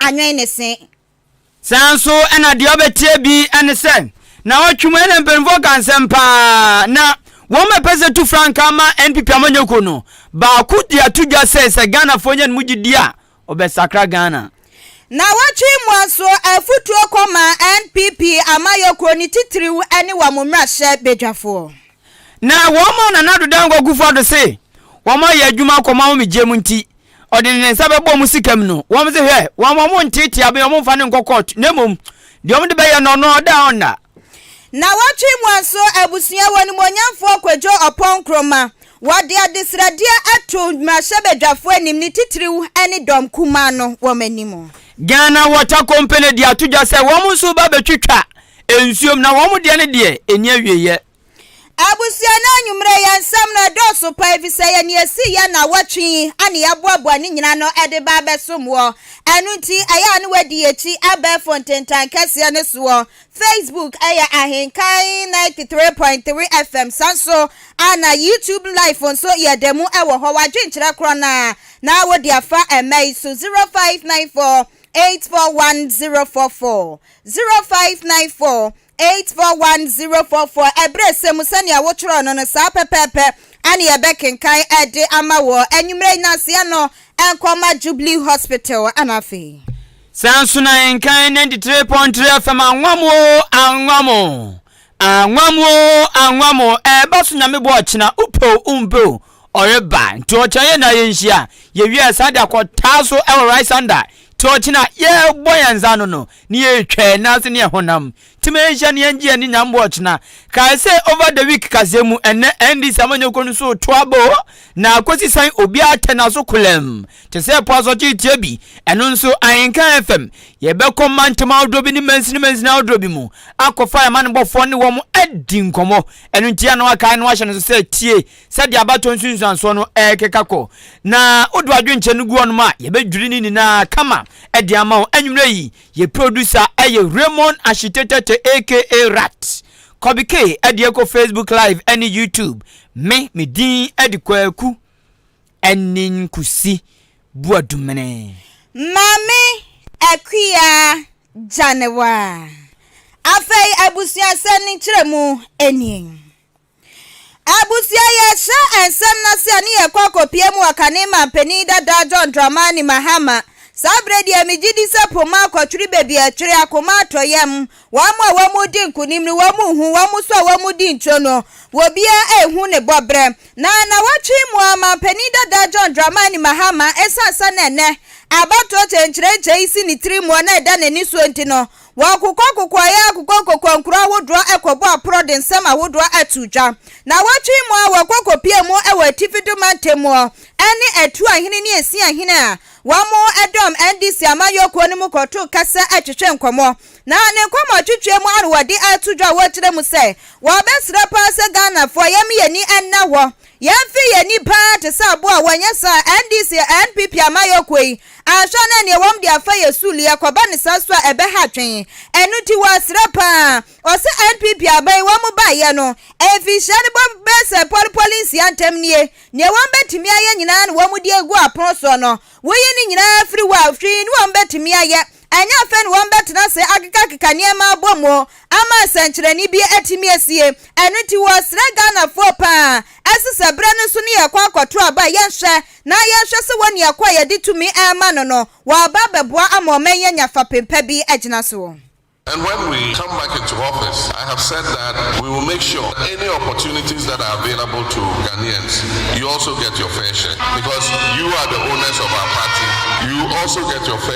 anwɛn ne se. Saa nso na deɛ ɔbɛteɛ bi ne sɛ, Naawɔtwe mu na mpanimfoɔ ka nsɛm pa ara na wɔn a ɛpɛ sɛ tu frankaa ma NPP amanyɔkuo no baako de ato dwa sɛ sɛ Ghanafoɔ nya ne mu gyedie a wɔbɛsakra Ghana. Naawɔtwe mu nso afutuo kɔma NPP amayɔkuo no titiriw ne wɔn mmarahyɛbadwafoɔ. Na wɔma Nana Addo Dankwa Kufuor-Addo se wɔayɛ adwuma akɔ ɔman homegyeɛ mu nti ɔde ne nsa bɛbɔ wɔn sikam no, wɔn se hwɛ, wɔn a wɔnteetea me, wɔmfa no nkɔ court, na mmom deɛ wɔde bɛyɛ no ɔno ɔda a ɔnna. Nnawɔtwe mu nso, abusua wɔ animuonyamfoɔ Kwadwo Ɔpɔn Nkrumah, wɔde adesrɛdeɛ ato mmarahyɛbadwafoɔ anim, ne titiriw ne dɔm kumaa no wɔn anim. Ghana Water Company de ato dwa sɛ wɔn nso reba abɛtwitwa nsuom, na wɔn deɛ ne deɛ ɛnni awieɛ. Abusua no anwumerɛ yɛ nsɛm no ɛdɔɔso paa efisɛ yɛ nea esii yɛ nnawɔtwe yi na yɛaboaboa ne nyinaa no de ba abɛsom wɔ. Ɛno nti ɛyɛ a na wɔadi yɛakyi abɛɛfo ntentan kɛseɛ no soɔ. Facebook yɛ Ahenkan 93.3 FM saa nso a na YouTube live nso yɛ da mu wɔ hɔ. W'adwenkyerɛ korɔ no ara na wode afa ɛmma yi so 0594 841 044. Zero five nine four eight four one zero four four Ɛberɛsɛ mu sɛnea wotwerɛɛ no no saa pɛpɛɛpɛ na yɛbɛkenkan de ama wɔ anwummerɛ yi nanseɛ no nkɔma Jubilee Hospital na afei. Saa nso na nkan ninety three point three FM anwam o anwam o anwam o anwam o ɛɛba so nyame boa ɔkyena wopɛ o wompɛ o Ɔreba nti ɔkyena yɛn nyinaa yɛnhyia. Yɛwieɛ san de akɔ taa so wɔ Rysander nti ɔkyena yɛrebɔ yɛn nsa ano no ne yɛretwa yɛn nan ase ne yɛn honam ntoma yɛnhyia ne yɛngye yɛn aninyan mmoa ɔkyena. Kae sɛ Over the Week kaseɛ mu ɛnnɛ NDC amanyɔkuo no so reto abo na akɔsi sɛn obiara tɛ n'aso kolam te sɛ po asɔkyee tia bi. Ɛno nso Ahenka FM yɛbɛkɔ mantam ahodoɔ bi ne mansini mansini ahodoɔ bi mu akɔfa yɛn amanebɔfoɔ ne wɔn adi nkɔmmɔ. Ɛno nti yɛn a na wakae no ahyɛ no nso sɛ tie Sɛdeɛ abatoɔ nsunsuansoɔ no rekeka kɔ, na wode w'adwenkyɛ no gu hɔnom a, yɛbɛdwiri ne nyinaa kama de ama wo. Anwummerɛ yi, yɛ producer yɛ Raymond Ashitetete aka Rat. Kobe K de ɛkɔ Facebook Live ne YouTube. Me, me din de Kwaku Aninkusi Boadumene. Maame Akua Gyanewa. Afei abusuasɛm no nkyerɛmu nie. Abusua, Yɛkyerɛ nsɛm no ase a ne yɛkɔ akɔpue mu wɔ kane man panin dada John Dramani Mahama. Saa berɛ deɛ megye di sɛ po mu akɔtwere baabi a ɛtwere akoma atɔ yam. Wɔn a wɔredi nkonim no, wɔn nhu, wɔn nso a wɔredi nkyɛn no, obiara nhu ne bɔberɛ. Na nnawɔtwe yi mu ara man panin dada John Dramani Mahama, ɛsiane sɛ na ɛnnɛ abatoɔ kyenkyerɛnkyɛn yi si ne tiri mu a na ɛda n'ani soɔ nti no, Wɔakokwakokwaa yɛ akokwakokwaa nkuro ahodoɔ ɛkɔbɔ aporɔ de nsɛm ahodoɔ ato dwa. Nawɔtwe yi mu ara wɔkɔ kɔpie mu wɔ Atifi do Mantamuɔ ɛne Atuo ahene ne Esin ahene a wɔn ɛdɔm NDC amanyɔkuo no mu kɔto kɛsɛ ɛtwetwe nkɔmɔ. Na ne nkɔmɔtwetweɛ mu ara wɔde ato dwa a wɔkyerɛ mu sɛ wɔbɛsrɛ paa sɛ Ghanafoɔ yɛm yɛni nna hɔ Yɛmfee yɛn ani paa te sɛ aboa a wɔanyɛ saa a NDC, NPP amayɔkuo yi anhwɛ na ɛneɛ wɔn de afa yɛn suu lia kɔba ne saa su a ɛbɛha atwen. Ɛno nti wɔsrɛ paa ɔsɛ NPP aban yi wɔn ba yɛ no mfinhyia no bɔ bɛyɛ sɛ pɔli pɔli nsia ntɛm nie neɛ wɔn bɛtumi ayɛ nyinaa na wɔn de agu apono soɔ no woyi ne nyinaa firi hɔ a hwii ne wɔn bɛtumi ayɛ Ɛnyɛ afei na wɔbɛtena ase akekakeka nneɛma abom o, ama nsɛnkyerɛnne bi atumi asie. Ɛno nti wɔresrɛ Ghanafoɔ pa ara se sɛ berɛ no so ne yɛkɔ akɔto aba a, yɛnhwɛ na yɛnhwɛ sɛ wɔn nea kɔ a yɛde tumi rema no no, wɔaba abɛboa ama ɔman yi anya fapem pa bi agyina so. And when we come back into office, I have said that we will make sure any opportunities that are available to Ghanaians, you also get your fair share because you are the owners of our party, you also get your fair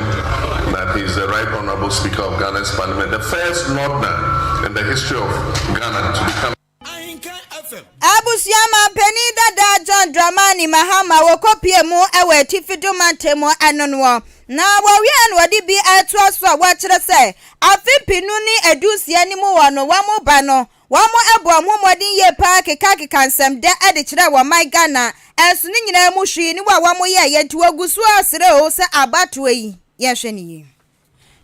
na he is the right honourable speaker of Ghana's parliament, the first Northerner in the history of Ghana to become. Abusua Manpanin Dada John Dramani Mahama wɔkɔpie mu wɔ Atifi Dum Mantam mu ɛno noɔ na wɔwieɛ no wɔde bi ɛretoa so a wɔkyerɛ sɛ afe mpenu ne aduosia no mu wɔ no wɔn ba no Wɔbɔɔ ho mmɔden yie paa kekaakeka nsɛm dɛ de kyerɛɛ wɔ man Ghana nso ne nyinaa mu hwee ne wɔ a wɔyɛeɛ nti wɔgu so ara srɛ oo sɛ abatoɔ yi yɛnhwɛ no yie.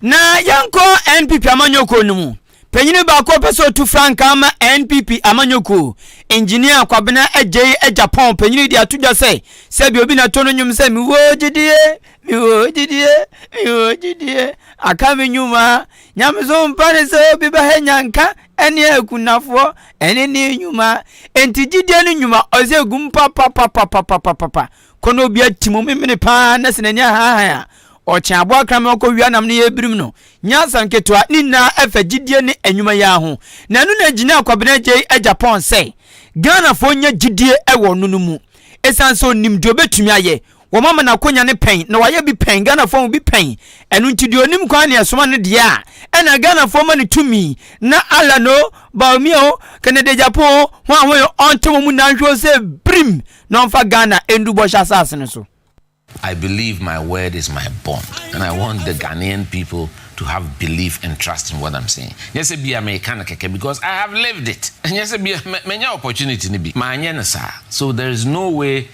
Na yɛnkɔ NPP amanyɔkuo no mu. Panyini baako a ɔpɛ sɛ ɔtu frankaa ama NPP amanyɔkuo, Engineer Kwabena Adjei Agyapong panyini de ato dwa sɛ sɛdeɛ obi na to no nnwom sɛ Mewɔ gyidie, mewɔ gyidie, mewɔ gyidie, aka me nnwuma, Nyamesom pa ne sɛ obi bɛhɛ nyanka ne akunafoɔ ɛne ne nnwuma. Enti gyidie no nnwuma ɔsɛ egu mu papapapapapapa. Kɔ na obi ati mu memene paa na sɛ n'ani ahanhan a, ɔkyɛn aboa kraman ɔkɔ wia nam ne yɛbirim no. Nyɛ asɛm ketewa, ne nyinaa ɛfa gyidie ne nnwuma yi ara ho. Na ɛno na gyinaa Kwabena Gyei Agyapong sɛ Ghanafoɔ nya gyidie wɔ ɔno no mu. Ɛsiane sɛ ɔnim deɛ ɔbɛtumi ayɛ, Wɔma ma n'akonya no pɛn na wayɛ bi pɛn, Ghanafoɔ mu bi pɛn, ɛno nti deɛ ɔnim kwan na ɛsoma no deɛ a, ɛna Ghanafoɔ ma no tumi, na Allan o, Bawumia o, Kennedy Agyapong o, wɔn a wɔyɛ ɔnte wɔn mu nnanhwɛ o sɛ birim na wɔmfa Ghana ndu bɔhyɛ asase no so. I believe my word is my bond and I want the Ghanaian people to have belief and trust in what I'm saying. Nyɛ sɛ bia meka no kɛkɛ because I have lived it. Nyɛ sɛ bia manya opportunity no bi, manyɛ no saa. So there is no way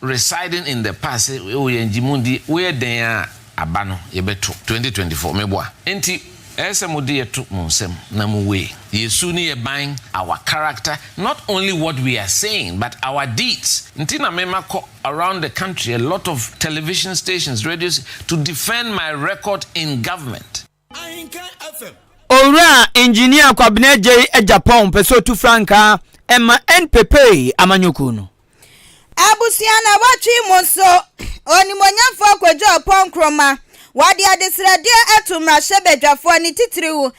Residing in the past se wo yɛ ngye mu di wo yɛ dɛn a aba no yɛ bɛ to 2024 me boa nti ɛyɛ sɛ mo de yɛ to mo nsam na mo we yɛ su ne yɛ ban our character not only what we are saying but our deeds nti na me ma kɔ around the country a lot of television stations radio to defend my record in government. Owura Engineer Kwabena Agyei Agyapong pɛ sɛ ɔtu frankaa ma NPP amanyɔkuo no. Abusua nawɔtwe yi mu nso, Onimuonyamfoɔ Kwadwo Aupong Nkrumah, wɔde adesrɛdeɛ ato mmarahyɛbadwafoɔ ne titiriw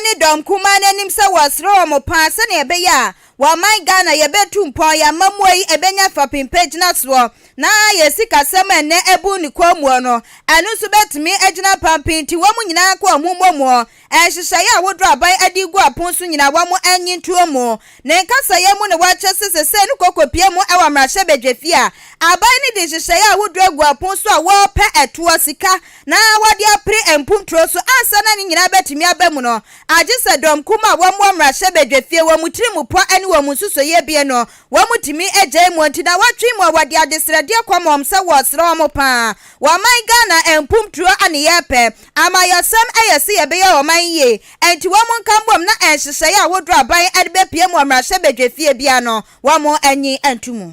ne dɔm kumaa no anim sɛ wɔsrɛ wɔn paa sɛdeɛ ɛbɛyɛ a Wɔ ɔman Ghana yɛbɛtu mpɔn yɛn amammuo yi ɛbɛnya fapem pa gyinasoɔ na yɛn sikasɛm a ɛnnɛ abu ne kɔnmuo no ɛno nso bɛtumi agyina pampee nti wɔn nyinaa nka wɔn ho mmom nhyehyɛeɛ a woduro aban adi regu apon so nyinaa wɔn nnye ntoɔ mu Ne nkasaeɛ mu no wɔkyerɛ sɛ sesei no kɔkɔpie mu wɔ mmarahyɛbadwafie a aban no de nhyehyɛeɛ a woduro agu apon so a wɔrepɛ ɛtoɔ sika na wɔde apere mponturo so ansa na ne nyinaa bɛtumi aba mu no Agye sɛ dɔm kum a wɔn wɔ mmarahyɛ badwa fie, wɔn tiri mu pɔ ɛne wɔn nsusuiɛ abien no, wɔn tumi gyae mu nti na wɔtwe mu a wɔde adesrɛdeɛ kɔma wɔn sɛ wɔresrɛ wɔn paa. Wɔman Ghana ɛmpum turo a ne yɛ pɛ. Amayɔsɛm ɛyɛ se yɛbɛyɛ wɔman yie. Ɛnti wɔn nka mbom na ɛnhyehyɛeɛ ahodoɔ a aban ɛde bɛpie mu wɔ mmarahyɛ badwa fie biara no wɔn anyi nto mu.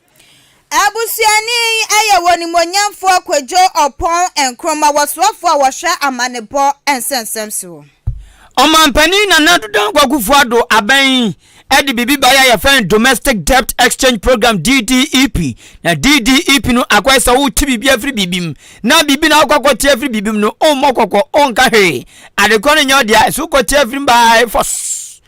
Abusuani yi yɛ wɔ Onimuonyamfoɔ Kwadwo Ɔpɔn Nkrumah wɔ soafoɔ a wɔhwɛ amanebɔ nsɛmnsɛm soɔ. Ɔmanpanin Nana Addo Dankwa Akufo-Addo aban yi de biribi baeɛ a yɛfrɛ no Domestic Debt Exchange Programme, DDEP. Na DDEP no akɔyɛ sɛ wote biribi afiri biribi mu. Na biribi na wokɔ akɔte afiri biribi mu no, wommɔ kɔkɔ, wonka hwee. Adekorɔ no nyɛ wo dea, ɛsɛ wokɔte afiri mu baa force.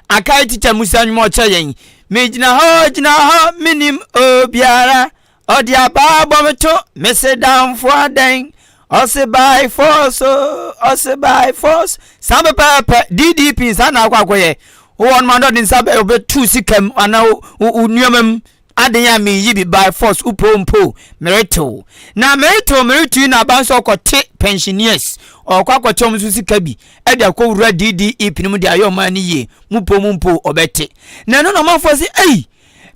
Akae tikya Musa nwom a ɔkyerɛ yɛn. Megyina hɔ, gyina hɔ, menim obiara. Ɔde abaa bɔ me to, mese damfo adɛn? Ɔse by force, ɔse by force. Saa pɛpɛɛpɛ, DDP saa na akɔ akɔyɛ. Wowɔ no ma no ɔde nsa bɛtu sika mu anaa wo nneɛma mu. Aden a meyi bi by force wopɛ ompɛ o meretew na meretew meretu yi na aba nso ɔkɔte pensioners ɔkɔ akɔkyɛ wɔn nso sika bi ɛde akɔwura DDEP no mu de ayɛ ɔman no yie mopɛ o mompɛ o ɔbɛte na ɛno na ɔmanfoɔ se ei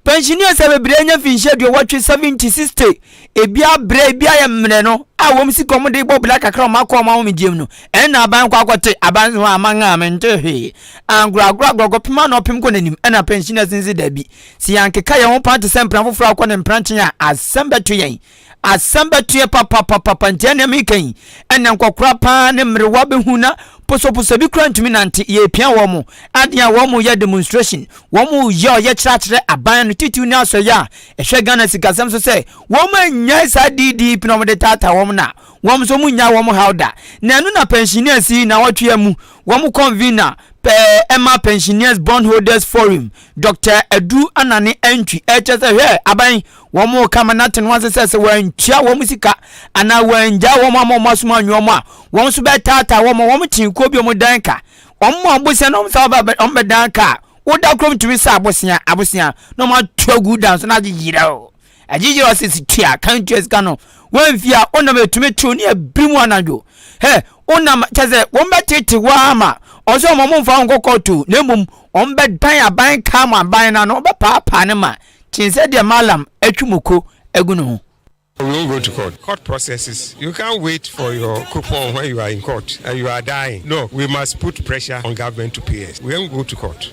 pensioners a bebree anya finhyia aduowɔtwe seventy sixty ebi abrɛ ebi ayɛ mmerɛ no a wɔn sika wɔn de bɔ bla kakra wɔn akɔ wɔn ahomegyeɛm no ɛno na aban kɔ akɔte aban nso aman a mente hwee angoragora gorɔgɔ pem ano pem kɔ n'anim ɛna pensioners nse dabi Sɛ yɛankeka yɛn ho paa te sɛ mpena foforɔ a ɔkɔ ne mpena nkyɛn a, asɛm bɛto yɛn. Asɛm bɛto yɛn papapapapa. Nti ɛnneɛ meka yi, ɛnneɛ nkɔkora paa ne mmerewa bɛhu na posoposo bi koraa ntumi nante. Yɛrepia wɔn. Adeɛ a wɔn reyɛ demonstration, wɔn reyɛ ɔyɛkyerɛ akyerɛ aban no titiriw ne asɔeɛ a ɛhwɛ Ghana sikasɛm so sɛ wɔn annyae saa DDP no a wɔde taataa wɔn no a wɔn nso wɔnnyae wɔn haw da. Na ɛno na pensioners yi nnawɔtwe amu wɔn convener pɛɛ ɛma Pensioners Bondholders Forum Dɔkta Adu Anane antwi. Ɛkyɛ sɛ hwɛ aban wɔn reka ma no ate no ase sɛ sɛ wɔantua wɔn sika anaa wɔangyaa wɔn ama wɔn asom anwene wɔn a, wɔn nso bɛtaataa wɔn ma wɔn kyen kuo bi wɔn dan ka. Wɔn ma abosea na wɔn nsa wɔbɛ wɔn bɛdan ka a woda kurom tumi sa abosea abosea na wɔn ato agu dan so na agye yira o. Ɛgyigyiri ɔse si tua kan tua sika no wamfi a wonam ɛtumi tew ne abiri mu anadwo hɛ wonam kyɛ sɛ wɔn bɛtete wo ama ɔsɛ wɔn mfa wo nkɔ kɔɔto na mmom wɔn bɛdan aban kaa mo aban no ano wɔbɛpaapaa ne ma kyen sɛ deɛ malam atwi moko agu ne ho. We won't go to court. Court processes, you can't wait for your coupon when you are in court and you are dying. No, we must put pressure on government to pay us. We won't go to court.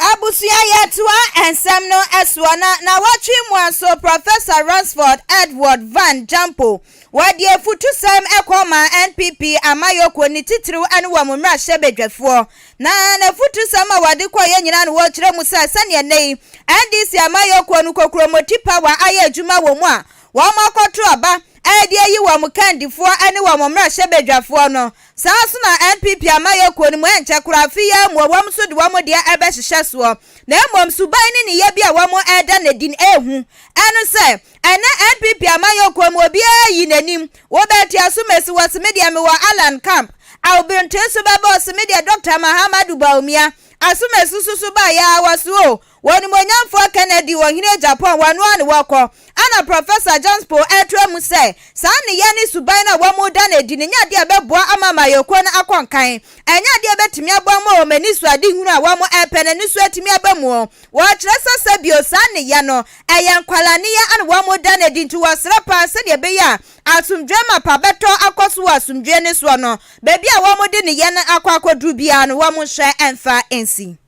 Abusua Yɛtoa Nsɛm no Soɔ Na nnawɔtwe mu ara nso Professor Ransford Edward Van Jampo wɔde afutusɛm kɔmaa NPP amayɔkuo no titiriw ne wɔn mmarahyɛbadwafoɔ na n'afutusɛm a wɔde kɔeɛ nyinaa no wɔkyerɛ mu sɛ sɛdeɛ nnɛ yi NDC amayɔkuo no kokuromoti pawa ayɛ adwuma wɔ mu a wɔakɔto aba ɛde ayi wɔn kandifoɔ ne wɔn mmarahyɛbadwafoɔ no Saa ara nso na NPP amayɛ kuo no mu ɛnkyɛ koraa afe yi ara mu wɔn nso de wɔn deɛ rebɛhyehyɛ soɔ. Na mmom suban ne ne yɛbea a wɔn reda no adi no ɛrehu ɛno sɛ ɛnnɛ NPP amayɔ kuo mu obiara ayi n'anim. Wobɛtua so mesi wo ɔse medeɛ mewɔ Allan camp a obrnte so bɛba ɔse medeɛ Doctor Mahamadou Bawumia aso mesi so so baa yɛa wɔ so o Wɔ Animuonyamfoɔ Kennedy Ɔhene Japan wɔ ɛno ara na wɔkɔ. Ɛna Professor Janspo ɛretra mu sɛ saa nneyɛɛ ne suban no a wɔn reda no adi no nyɛ adeɛ a ɛbɛboa ama amanyɔkuo no akɔ nkan. Ɛnyɛ adeɛ a ɛbɛtumi aboa wɔn a wɔn ani sɔ ade hunu a wɔn repɛ no ani so atumi aba mu. Wɔkyerɛ sɛ sɛ bio saa nneyɛɛ no ɛyɛ nkwadaa nneyɛɛ na wɔn reda no adi nti wɔsrɛ paa sɛdeɛ ɛbɛyɛ a asomdwoeɛ ma pa bɛtɔ akɔ so wɔ asomdwoeɛ no soɔ no baabi a wɔn de nneyɛɛ no akɔ akɔduru biara no wɔn nhyɛ mfa nsi.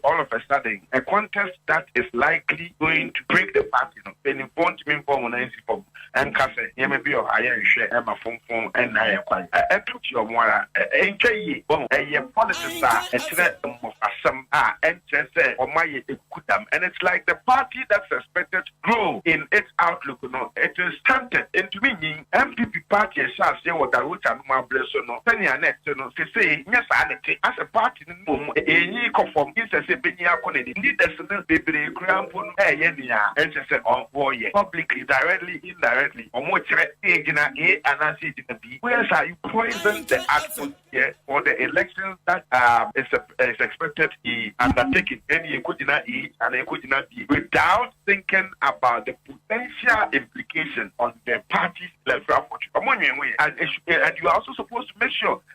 All of a sudden a contest that is likely going to break the party no, mpanyimfoɔ ntumi mfa wɔn nan nsi fam nka sɛ nneɛma bi wɔ hɔ a yɛnhwɛ mma fomfom nna yɛn kwan. Ɛto kyerɛ wɔn ara. Ɛntwa yie. Wahu? Ɛyɛ politics a ɛkyerɛ mmofrasɛm a ɛnkyerɛ sɛ wɔayɛ akukudam. And it's like the party that is expected to grow in its outlook no, it is stunted, entumi nyin. NPP party a ɛhyɛɛ aseɛ wɔ Darwecha nom abere so no, sɛnea na ɛte no, seesei nyɛ saa na ɛte. Asɛ party. Mmom, enyi kɔ fam. Nsɛ sɛ benyin ako n'ani. Nnɛ da su no, bebree koraa mpo no reyɛ nea ɛnsɛ sɛ wɔyɛ, publicly, directly, indirectly, wɔkyerɛ gyinae anaasɛ gyinapi. Woyɛ saa a, you poison the atmosphere for the elections that are is expected to be undertaken, ɛnde yekogyina A anaa yekogyina B without thinking about the potential implications on the party's electoral fortune. Wɔnnwen ho ɛ. And you are also supposed to make sure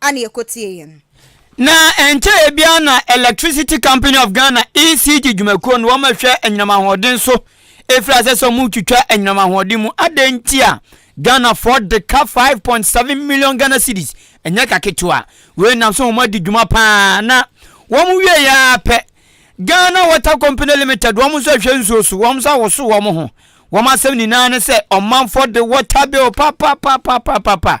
a na yɛkɔtieeɛ no. Na ɛnkyɛeɛ biara na Electricity Company of Ghana, ECG, dwumakuo no wɔhwɛ anyinam ahoɔden so ɛfiri aseɛ sɛ wɔretwitwa anyinam ahoɔden mu. Adɛn nti a Ghanafoɔ de ka 5.7 million Ghana cedis? Ɛnyɛ ka ketewa. Wei nam sɛ wɔn adi dwuma paa na wɔn wieɛ ara pɛ Ghana Water Company Limited wɔn nso ɛhwɛ nsuo so wɔn nso awoso wɔn ho. Wɔn asɛm nyinaa ne sɛ ɔmanfoɔ de water bill papapapapapa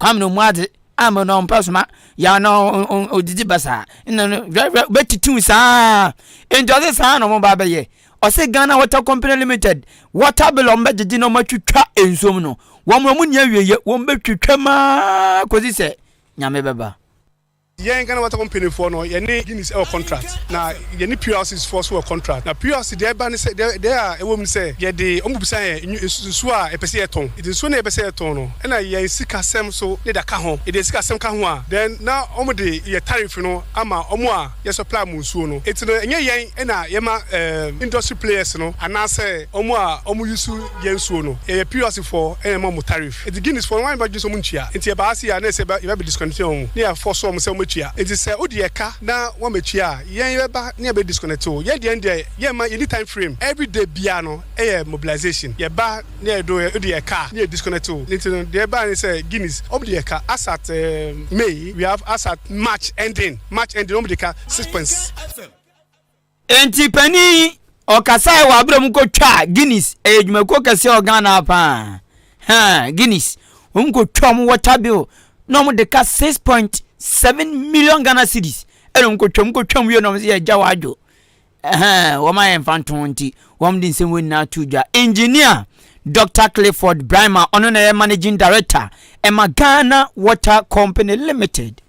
Kwame no mu adze ama no ɔmmpɛ soma ya na odzidzi basaa nna no hwɛ hwɛ bɛtitiw saa ntsi ɔse saa na ɔmo ba bɛyɛ ɔse Ghana Water Company Limited water bill ɔmo bɛgyegye na ɔmo atwitwa nsuom no wɔmma ɔmo nni awieyɛ wɔn bɛtwitwa mu aa kɔdzi sɛ Nyame bɛba. Yɛn Ghana Water Company foɔ no yɛne Guinness ɛwɔ contract na yɛne PLCs foɔ so wɔ contract na PLC deɛ ɛba ne sɛ deɛ deɛ a ɛwɔ mu ne sɛ yɛde wɔn bɛbisa yɛn nwu nsu nsuo a yɛpɛ sɛ yɛtɔn nti nsuo no a yɛpɛ sɛ yɛtɔn no ɛna yɛn sika sɛm so ne da ka ho yɛde yɛn sika sɛm ka ho a then na wɔn de yɛn tariff no ama wɔn a yɛ supply wɔn nsuo no nti no ɛnyɛ yɛn ɛna yɛma ɛɛm industry players no anaasɛ wɔn a wɔn use yɛn nsuo no yɛyɛ PLC foɔ ɛna yɛma wɔn tariff. Ntsi Guineasfo no, wɔannyɛ w'adwen sɛ wɔnntua. Ntsi ɛbaa ase a, nna ɛsɛ sɛ yɛba bedisconnecteɛ hɔn, na yɛafɔɔse hɔn sɛ wɔmɛtua. Ntsi sɛ wode yɛka na wɔamɛtua a, yɛn yɛbɛba na yɛabedisconnecte wo. Yɛn deɛ yɛn deɛ, yɛmma, yɛnni time frame. Every day biara no, yɛ mobilisation. Yɛba na yɛdo, wode yɛka a, na yɛdisconnecte wo. Ntsi no, deɛ ɛbaeɛ ne sɛ, Guineas, wɔde yɛka asat May, we have asat March ending, March ending, wɔde ka six point. Enti panin yi ɔkasaeɛ wɔ aberɛ mu kɔtwaa Guinness, ɛyɛ dwumakuo kɛseɛ wɔ Ghana ha paa, haa Guinness, wɔn kɔtwaa wɔn water bill na wɔn de ka six point seven million Ghana cedis ɛna wɔn kɔtwaa wɔn kɔtwaa wɔn wie na wɔn sɛ yɛgya wɔ adwo, ɛhɛn wɔn ayɛ nfa nto ho nti wɔn de nsɛm wɔ nyinaa to dwa. Engineer Dr Clifford Brima ɔno na ɛyɛ managing director ɛma Ghana Water Company Limited.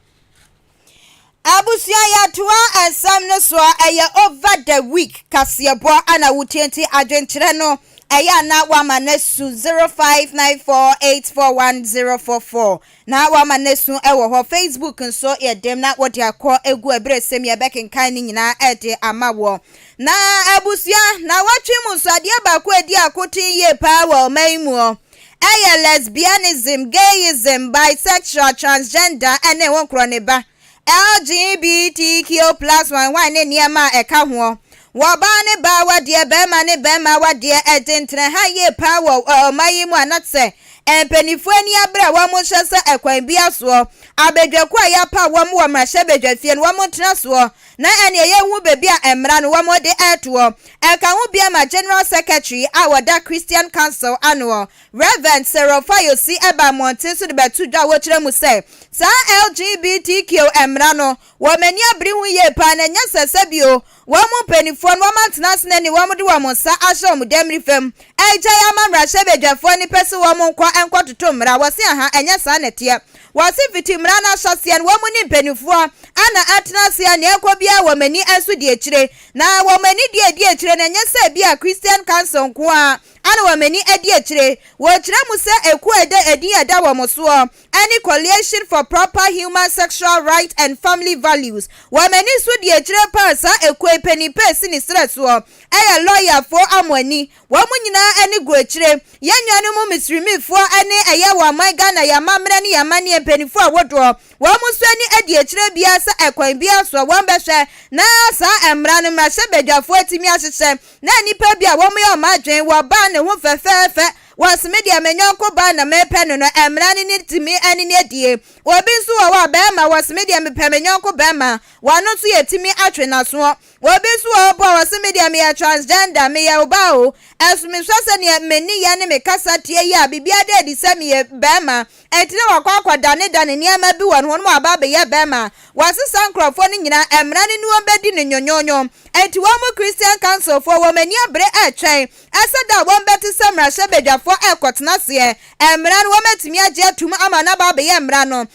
Abusua yɛtoa nsɛm no soɔ ɛyɛ over the week kaseɛbɔ ana wotie nti adwenkyerɛ no ɛyɛ ana wama no asu 0594841044 na wama no asu ɛwɔ hɔ facebook nso yɛdem na wode akɔ egu ɛberɛ sɛm yɛbɛkenkan no nyinaa ɛde ama wɔ na abusua na wɔtwe mu nso adeɛ baako ɛdi akoten yie paa wɔ ɔman muɔ Ɛyɛ lesbianism, gayism, bisexual, transgender, ne wo nkorɔ ne ba, LGBTQ plus one one ne nneɛma a ɛka hoɔ. Wɔ baa ne baa awadeɛ, barima ne barima awadeɛ, ɛde ntena ha yie paa wɔ ɔman yi mu a na sɛ mpaninfoɔ ani abere a wɔn nhyɛ sɛ ɛkwan biara soɔ abadwakuo a yɛapaw wɔn wɔ mmarahyɛbadwafie no wɔn ntena soɔ na ɛnneɛ yɛnhu baabi a mmara no wɔde retoɔ. Ɛka ho bia ma General Secretary a ɔda Christian Council anoɔ, Rev. Cyril Fayose ɛbaa mmɔnten so de bɛto dwa a wɔkyerɛ mu sɛ, saa LGBTQ mmara no, wɔn ani abere ho yie paa na ɛnyɛ sɛ sɛbio wɔn mpaninfoɔ no wɔn atena ase na ni wɔn de wɔn nsa ahyɛ wɔn dammirifa mu agyae ama mmarahyɛbadwafoɔ no pɛ sɛ wɔn nkɔ nkɔtoto mmara, wɔse ahaa ɛnyɛ saa na ɛteɛ. Wɔse fiti mmara no ahyɛseɛ no wɔn ne mpanimfoɔ ana atena ase a nea ɛrekɔ biara wɔn ani nso di akyire. Na wɔn ani deɛ ɛdi akyire no ɛnyɛ sɛ ebia Christian Council nko ara ana wɔn ani adi akyire. Wɔkyerɛ mu sɛ ekuo a ɛda edin a ɛda wɔn soɔ ne Coalition for Proper Human Sexual Rights and Family Values. Wɔn ani nso di akyire pa ara. Saa ekuo yi panin pa a ɛsi ne serɛ soɔ yɛ lɔyafoɔ Amoani. Wɔn nyinaa ani gu akyire. Yɛn nuanom Misrimifoɔ ne ɛyɛ wɔ aman Ghana, yɛn amammerɛ ne yɛn amanneɛ mpanimfoɔ a wɔdoɔ. Wɔn nso ani adi akyire biara sɛ ɛkwan biara soɔ wɔn bɛhwɛ na saa mmara no mmarahyɛbadwafoɔ atumi ahyehyɛ na nnipa bi a wɔn yɛ wɔn adwene wɔ baa no ho fɛfɛɛfɛ wɔse medeɛ me nyɔnko baa na mepɛ no no mmara no ne tumi ɛne ne adie. Obi nso wɔ hɔ a bɛɛma wɔse medeɛ mepɛ me nyɔnko bɛɛma wɔno nso yɛtumi atwe nasoɔ Obi nso wɔ hɔ mpo a ɔse me deɛ meyɛ transgender, meyɛ obaa o, ɛso mesua sɛ neɛ me nneyɛ ne me kasa teɛ yi a biribiara da adi sɛ meyɛ barima, ɛnti na wakɔ akɔ dane dane nneɛma bi wɔ ne ho na waba abɛyɛ barima. Wɔse saa nkorɔfoɔ no nyinaa ɛmmra no ne wɔn bɛdi no nyonyonyo, ɛnti wɔn mo Christian council foɔ wɔn ani abere ɛretwɛn ɛsɛ da a wɔn bɛte sɛ mmarahyɛbadwafoɔ ɛrekɔtena aseɛ, ɛmmra no wɔn atumi agye atum ama no aba abɛyɛ mmra no.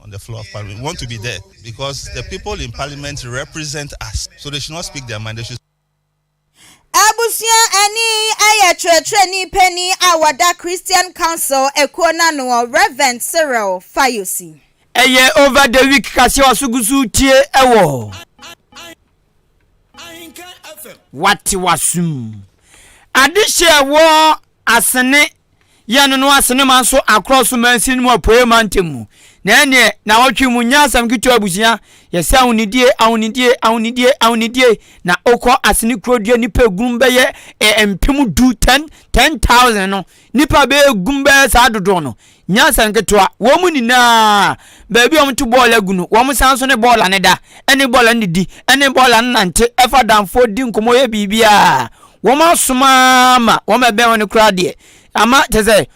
on the floor of parliament we want to be there because the people in parliament represent us so they should not speak their mind they should Abusua ɛne yi ɛyɛ kyerɛkyerɛni panin a wɔda Christian Council ekuo no ano wɔ Reverend Cyril Fayose. Ɛyɛ over the week kaseɛ waso gu so retie ɛwɔ. Wate w'aso mu. Adehye a ɛwɔ Asene yɛn no Asene man so akorɔ so mansin mu apueɛ mantam mu. Na ɛneɛ na wɔtwe mu nyɛ asɛm ketewa abusua yɛsɛ ahonidie ahonidie ahonidie ahonidie na okɔ Asene kuro deɛ nipa egunum bɛyɛ eh, mpem du ten ten thousand no Nnipa bɛyɛ gu bɛyɛ saa dodoɔ no, nyansa nketewa. Wɔn nyinaa, baabi a wɔto bɔɔl agu no, wɔn san nso ne bɔɔl ano da, ne bɔɔl ano didi, ne bɔɔl ano nante, fa danfoɔ di nkɔmmɔ yɛ biribiara. Wɔn asom ara ma wɔbɛn wɔn koraa deɛ, ama kyerɛ sɛ,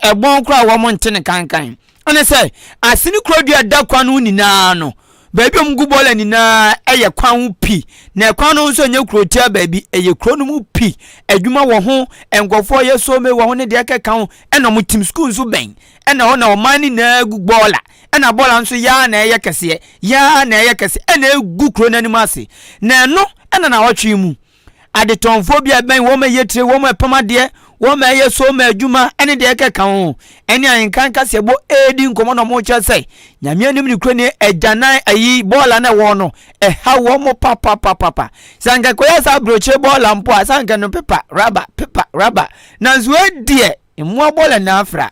ɛbɔn koraa a wɔnte no kankan. Ɛne sɛ, Asene kuro dua da kwan no ho nyinaa no, baabi a wɔgu bɔɔla nyinaa yɛ kwan ho pi, na ɛkwan no ho nso nyɛ kurotia baabi, ɛyɛ kuro no mu pi. Adwuma wɔ ho, nkurɔfoɔ yɛ soome wɔ ho ne deɛ ɛkeka ho, ɛna wɔn tim sukuu nso bɛn, ɛna hɔ na ɔman no nyinaa gu bɔɔla, ɛna bɔɔla no nso yɛ ara na ɛyɛ kɛseɛ, yɛ ara na ɛyɛ kɛseɛ, ɛna ɛgu kuro no anim ase, na ɛno na nnawɔtwe yi mu. adetɔnfoɔ bi a ɛbɛn wɔn ma ɛyɛ tire wɔn ma ɛpam adeɛ wɔn ma ɛyɛ so ma adwuma ɛne deɛ ɛkɛka ho ɛne ahenkan kaseɛbɔ ɛredi nkɔmmɔ na wɔkyerɛ sɛ nyame anim ne kurani agyanan ayi bɔɔla na ɛwɔ no ɛha wɔn mo papapapapa sɛ anka kɔyɛ saa aburokyire bɔɔla mpo a sɛ anka no pepa raba pepa raba nanso ɛdeɛ mmoa bɔɔla na afra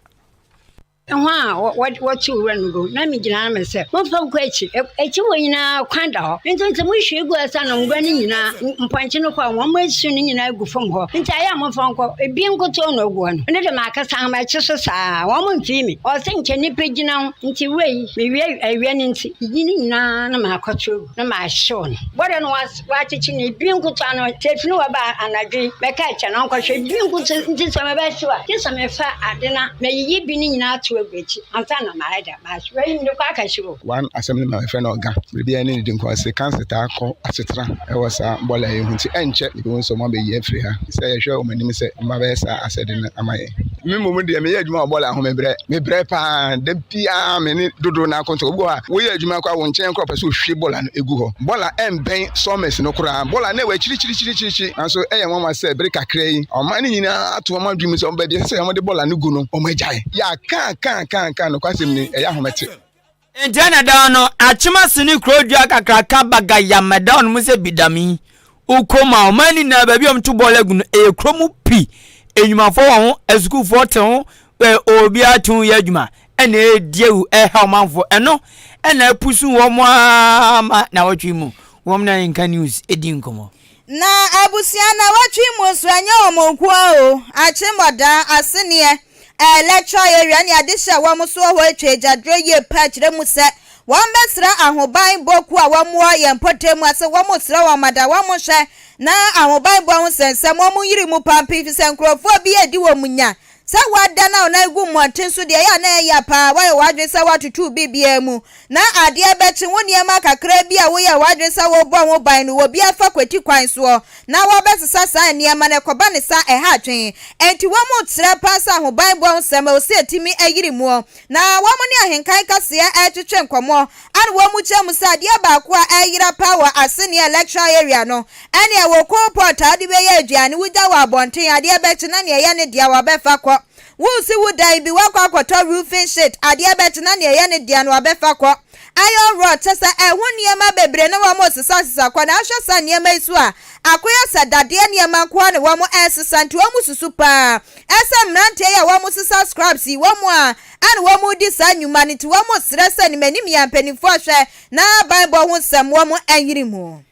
Hɔn a wɔd wɔtseew wura no do na migyina ano mese, Momfa nkɔ ekyir! E ekyir hɔ nyina kwan da hɔ, ntsi ntsɛ mohue gu ase ana ngua no nyina, mpɔnkye no kɔr, hɔn esu no nyina gu famu hɔ, ntsi ayɛ a momfa nkɔ, bi nkotoo na ogu hɔ no, ndɛ dɛ makasa hom akye so sa ara a, hom mmfee mi. Ɔse nkyɛ nyimpa gyina ho, ntsi wura yi, mewia, awia no ntsi, iyi no nyina na makɔtwew gu na mahyew no. Bɔdɛ no wɔ ase. Wɔakyekye no, ebi nkotoa no, sɛ efi no hɔ ba a, anadwo yi mɛka akyɛ no ɔnkɔhwɛ. Ebi nkotoa nti sɛ mebɛhyew a, gye sɛ mefa ade na meyiyi bi no nyinaa tow agu akyi ansa na mayɛ dɛm ahyew. Wei mede kɔ akɛhyew o. One asɛm no na wɔfrɛ no ɔga. Biribiara nni ne din kɔ. Ɔse cancer taa kɔ asetra wɔ saa bɔɔla yi ho nti ɛnkyɛ yɛbɛhu sɛ wɔabɛyi afiri ha. Sɛ yɛhwɛ wɔn anim sɛ wɔn abɛyɛ saa asɛde no ama yɛn. me mmom deɛ meyɛ adwuma wɔ bɔɔla ho mebrɛ mebrɛ paa da biara me ne dodoɔ no akɔntɔ obi wɔ hɔ a woyɛ adwuma kɔ a wo nkyɛn kora pɛ sɛ ohwie bɔɔla no egu hɔ bɔɔla ɛmbɛn sawmills no koraa bɔɔla no ɛwɔ akyirikyirikyirikyiri nanso ɛyɛ nwanwa sɛ bere kakra yi ɔman no nyinaa ato wɔn adwene mu sɛ wɔn baabi ɛsɛ sɛ wɔde bɔɔla no gu no wɔn agyae yɛ akaakaakaaka nokwasɛm ni ɛyɛ ahomete Nkyɛ na dɛn no, akyem ase ne kuro dua kakraka baga Yamada ɔnom sɛ Bidami, Ukom a ɔman no nyinaa baabi a wɔto bɔɔl agu no ɛyɛ kuro mu pi, nnwumafoɔ wɔ ho, asukuufoɔ te ho, ɛ obiara te ho yɛ adwuma ɛna ɛredi awu ɛreha ɔmanfoɔ, ɛno ɛna apusu wɔn ara ma nawɔtwe mu, wɔn na nka news ɛdi nkɔmmɔ. Na abusua na wɔtwe mu nso ɛnyɛ wɔn nko ara o, akyeremɔda, aseneɛ, ɛlɛtrɔn, awia ne adehye a wɔn so wɔ hɔ atwa agyadorɔ yie paa kyerɛ mu sɛ wɔbɛsrɛ ahobanbɔ kuo a wɔwɔ yɛn mpɔtam mu ase wɔsrɛ wɔn ma da wɔn nhwɛ na ahobanbɔ ho sɛnsɛm wɔn nyere mu paa mpo efisɛ nkurɔfoɔ bi adi wɔn nya Sɛ woada na wo nan gu mmɔnten so deɛ, ɛyɛ a na ɛyɛ ya paa. Woayɛ w'adwene sɛ woatotɔ biribiara mu, na adeɛ bɛkye. Wo nneɛma kakraa bi a woyɛɛ w'adwene sɛ wobɔ ho ban no, obi afa kwati kwan soɔ, na wɔbɛsesa saa nneɛma no. Ɛkɔba no saa a, ɛha adwene. Enti wɔn mu kyerɛ paa sɛ ahobanbɔ ho nsɛm, ɛwɔ sɛ yɛtumi yere mu. Na wɔn ne ahenka nkɛseɛ retwetwe nkɔmmɔ ɛna wɔn mu kyerɛ mu sɛ adeɛ baako a ɛreyera paa wɔ Asenea electoral area no ɛne ɛwɔ coal pot a wɔde bɛyɛ aduane wogya wɔ abɔnten adeɛ bɛkye na nea ɛyɛ ne dea wɔbɛfa kɔ wosi wo dan bi woakɔ akɔtɔ roofing sheet adeɛ bɛkye na nea ɛyɛ ne dea no wɔbɛfa kɔ Iron rod kyɛ sɛ ɛho nneɛma bebree na wɔn resesa sesa kɔ na ahwɛ saa nneɛma yi so a akoyɛ sɛ dadeɛ nneɛma nko ara na wɔn resesa nti wɔn susu paa ɛsɛ mmeranteɛ yi a wɔn resesa scraps yi wɔn a ɛna wɔn redi saa nnwuma no nti wɔn resrɛ sɛ nimanimia mpanyinfoɔ hwɛ na banbɔ ho nsɛm wɔn nyini mu.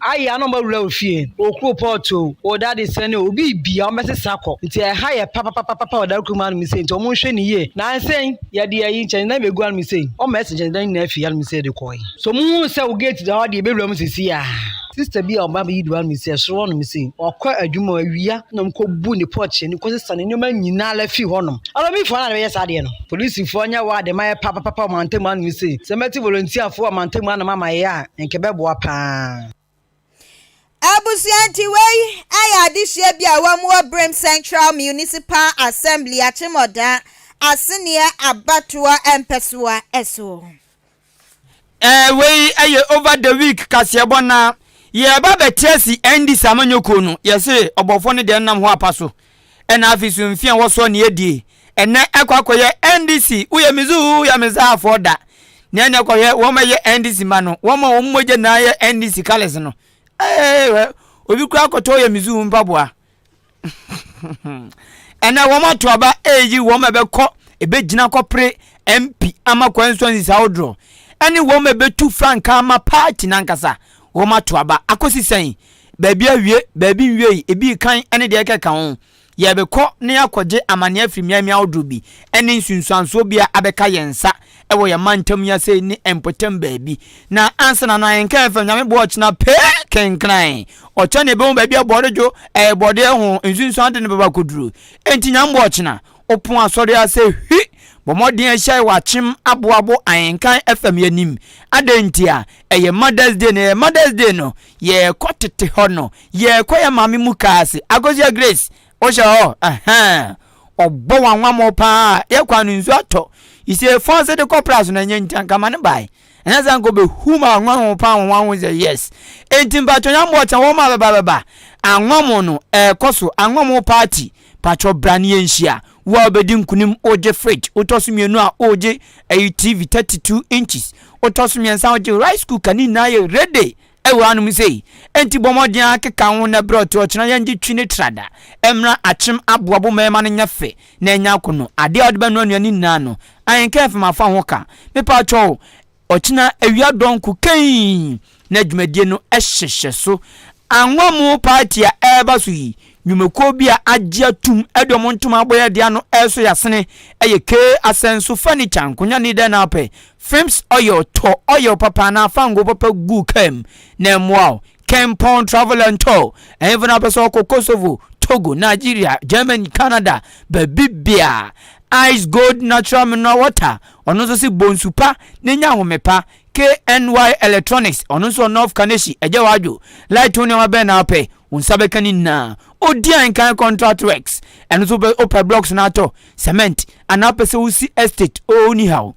Aye a na ɔma wura wo fie o, okuro pot o, o daddy sɛne o, obiibia ɔmo bɛsesa akɔ, nti ɛha yɛ papapapapa ɔdare kurumaa anom sei nti ɔmo nhwɛ no yie, nansei yɛde ayi nkyɛnsedan yi bɛgu anom sei, ɔma yɛse nkyɛnsedan nyinaa firi anom sei de kɔɔe. So ɔmo huu sɛ wo gate da hɔ deɛ yɛbɛwura mu sesie aa. Sister bi a ɔba abɛyi duru anom sei, ɛsoro hɔnom sei, ɔkɔ adwuma o, awia na ɔmo kɔ bu ne porch anim kɔ sesa ne nnoɔma nyinaa la firi hɔnom, armyfoɔ no a na bɛyɛ saa adeɛ no. Polisifoɔ nyɛ wɔ a deɛ mayɛ papapapa wɔ mantam anom sei, sɛ mɛte volunteerfoɔ wɔ mantam anom ama yɛ a, nka ɛbɛboa paa. Abusua nti wei yɛ adesua bi a wɔwɔ Birim Central Municipal Assembly Akyemɔda Aseneɛ abatoɔ mpɛsoa so. Ɛɛ wei ɛyɛ over the week kaseɛbɔ na yɛreba abɛte asi Andy's amanyɔkuo no yɛse ɔbɔfoɔ no deɛ nnam hɔ apa so ɛna afi so mfi a wɔsɔ ne adie ɛnɛ ɛkɔ akɔyɛ ndc woyɛ me zu woyɛ me za afɔ da ne ɛnɛ kɔhwɛ wɔn ɛyɛ ndc ma no wɔn a wɔn mogya na ayɛ ndc colours no ɛɛ wɛ obi kura akɔtɔ woyɛ me zu mpaboa ɛnɛ wɔn ato aba ɛyi wɔn ɛbɛkɔ ɛbɛgyina kɔpere mp ama kwan nso nsi saa odorɔ ɛne wɔn ɛbɛtu frankaa ma paati nankasa wɔn ato aba akɔsi sɛn baabi awie, baabi nwiei, ebi rekan ne deɛ ɛkeka ho. Yɛrebɛkɔ na yɛakɔgye amanneɛ afiri mmeammea ahodoɔ bi ne nsunsuansoɔ bi a abɛka yɛn nsa wɔ yɛn mantam yi ase ne mpɔtam baabi. Na ansa na na yɛnka yɛmfa Nyame boɔ ɔkyena pee kenkran. Ɔkyena na yɛbɛhu baabi a bɔde dwo, ɛɛ bɔde ho nsunsuande no bɛba akɔduru. Enti Nyame boɔ ɔkyena, wopon asɔre ase hwi, bɔ mmɔden hyia yɛ wɔ akyem aboabo ahenkan fam yɛn anim. Adɛn ntia? Ɛyɛ Mother's Day no, ɛyɛ Mother's Day no, yɛrekɔ tete hɔ no, yɛrekɔ yɛ maame mu kaa ase. Akosia Grace, wohyɛ hɔ? Ɛhɛn. Ɔbɔ w'anwammɔ paa. Yɛ kwan no nsu atɔ. You see, fɔn ase de kɔ pras no ɛnyɛ nti anka ma ne bae. Ɛnyɛ sɛ anka obehu ma anwanwo paa wɔn anwo sɛ yes. Enti mpatwɔ nyɛ mmoɔ kyɛn wɔn a bɛba bɛba. Anwammo no ɛrekɔ so, anwammo party. Patwɔ bra ne yɛnhyia. Wo a wobɛdi nkonim, wogye fridge, wotɔ so mmienu a, wogye ɛyi TV 32 inches, wotɔ so mmiɛnsa a, wogye rice cooker, ne nyinaa yɛ ready ɛwɔ hanom sei. Enti bɔ mmɔden ara keka wo ho nnɛ berɛ ɔte ɔkyena yɛngye twi ne trada mmra akyem aboa bo ma ɛma no nyɛ fɛ na anya akono. Adeɛ a wode bɛnoa nnuane nyinaa no, ahenka ɛmfam afa ho ka. Mepaatwɔ wo, Ɔkyena awia dɔnko kɛnn na dwumadie no hyehyɛ so. Anwa mu paati a ɛreba so yi, nnwumakuo bi a agye atum de wɔn ntoma abɔeɛ de ano resɔ yasene yɛ K Asɛnso Furniture, nkonnwa ne dɛn na wopɛ, Philips Oil, tɔ oil papa anaa fango papa gu kaa mu na ɛmmoa wo. Kempon Travel and Tour, Ɛhefo na wopɛ sɛ ɔkɔ Kosovo, Togo, Nigeria, Germany, Canada, baabi biaa? Ice Gold Natural Mineral Water, ɔno nso se bɔ nsu pa na nya ahome pa. KNY Electronics, ɔno nso wɔ North Kaneshie, ɛgyɛ w'adwo. Light ho nneɛma bɛn na wopɛ? Wo nsa bɛka ne nyinaa. Odian Kan Contract Works, ɛno nso wopɛ blocks no atɔ, cement, anaa wopɛ sɛ wosi estate, oh, onihaw.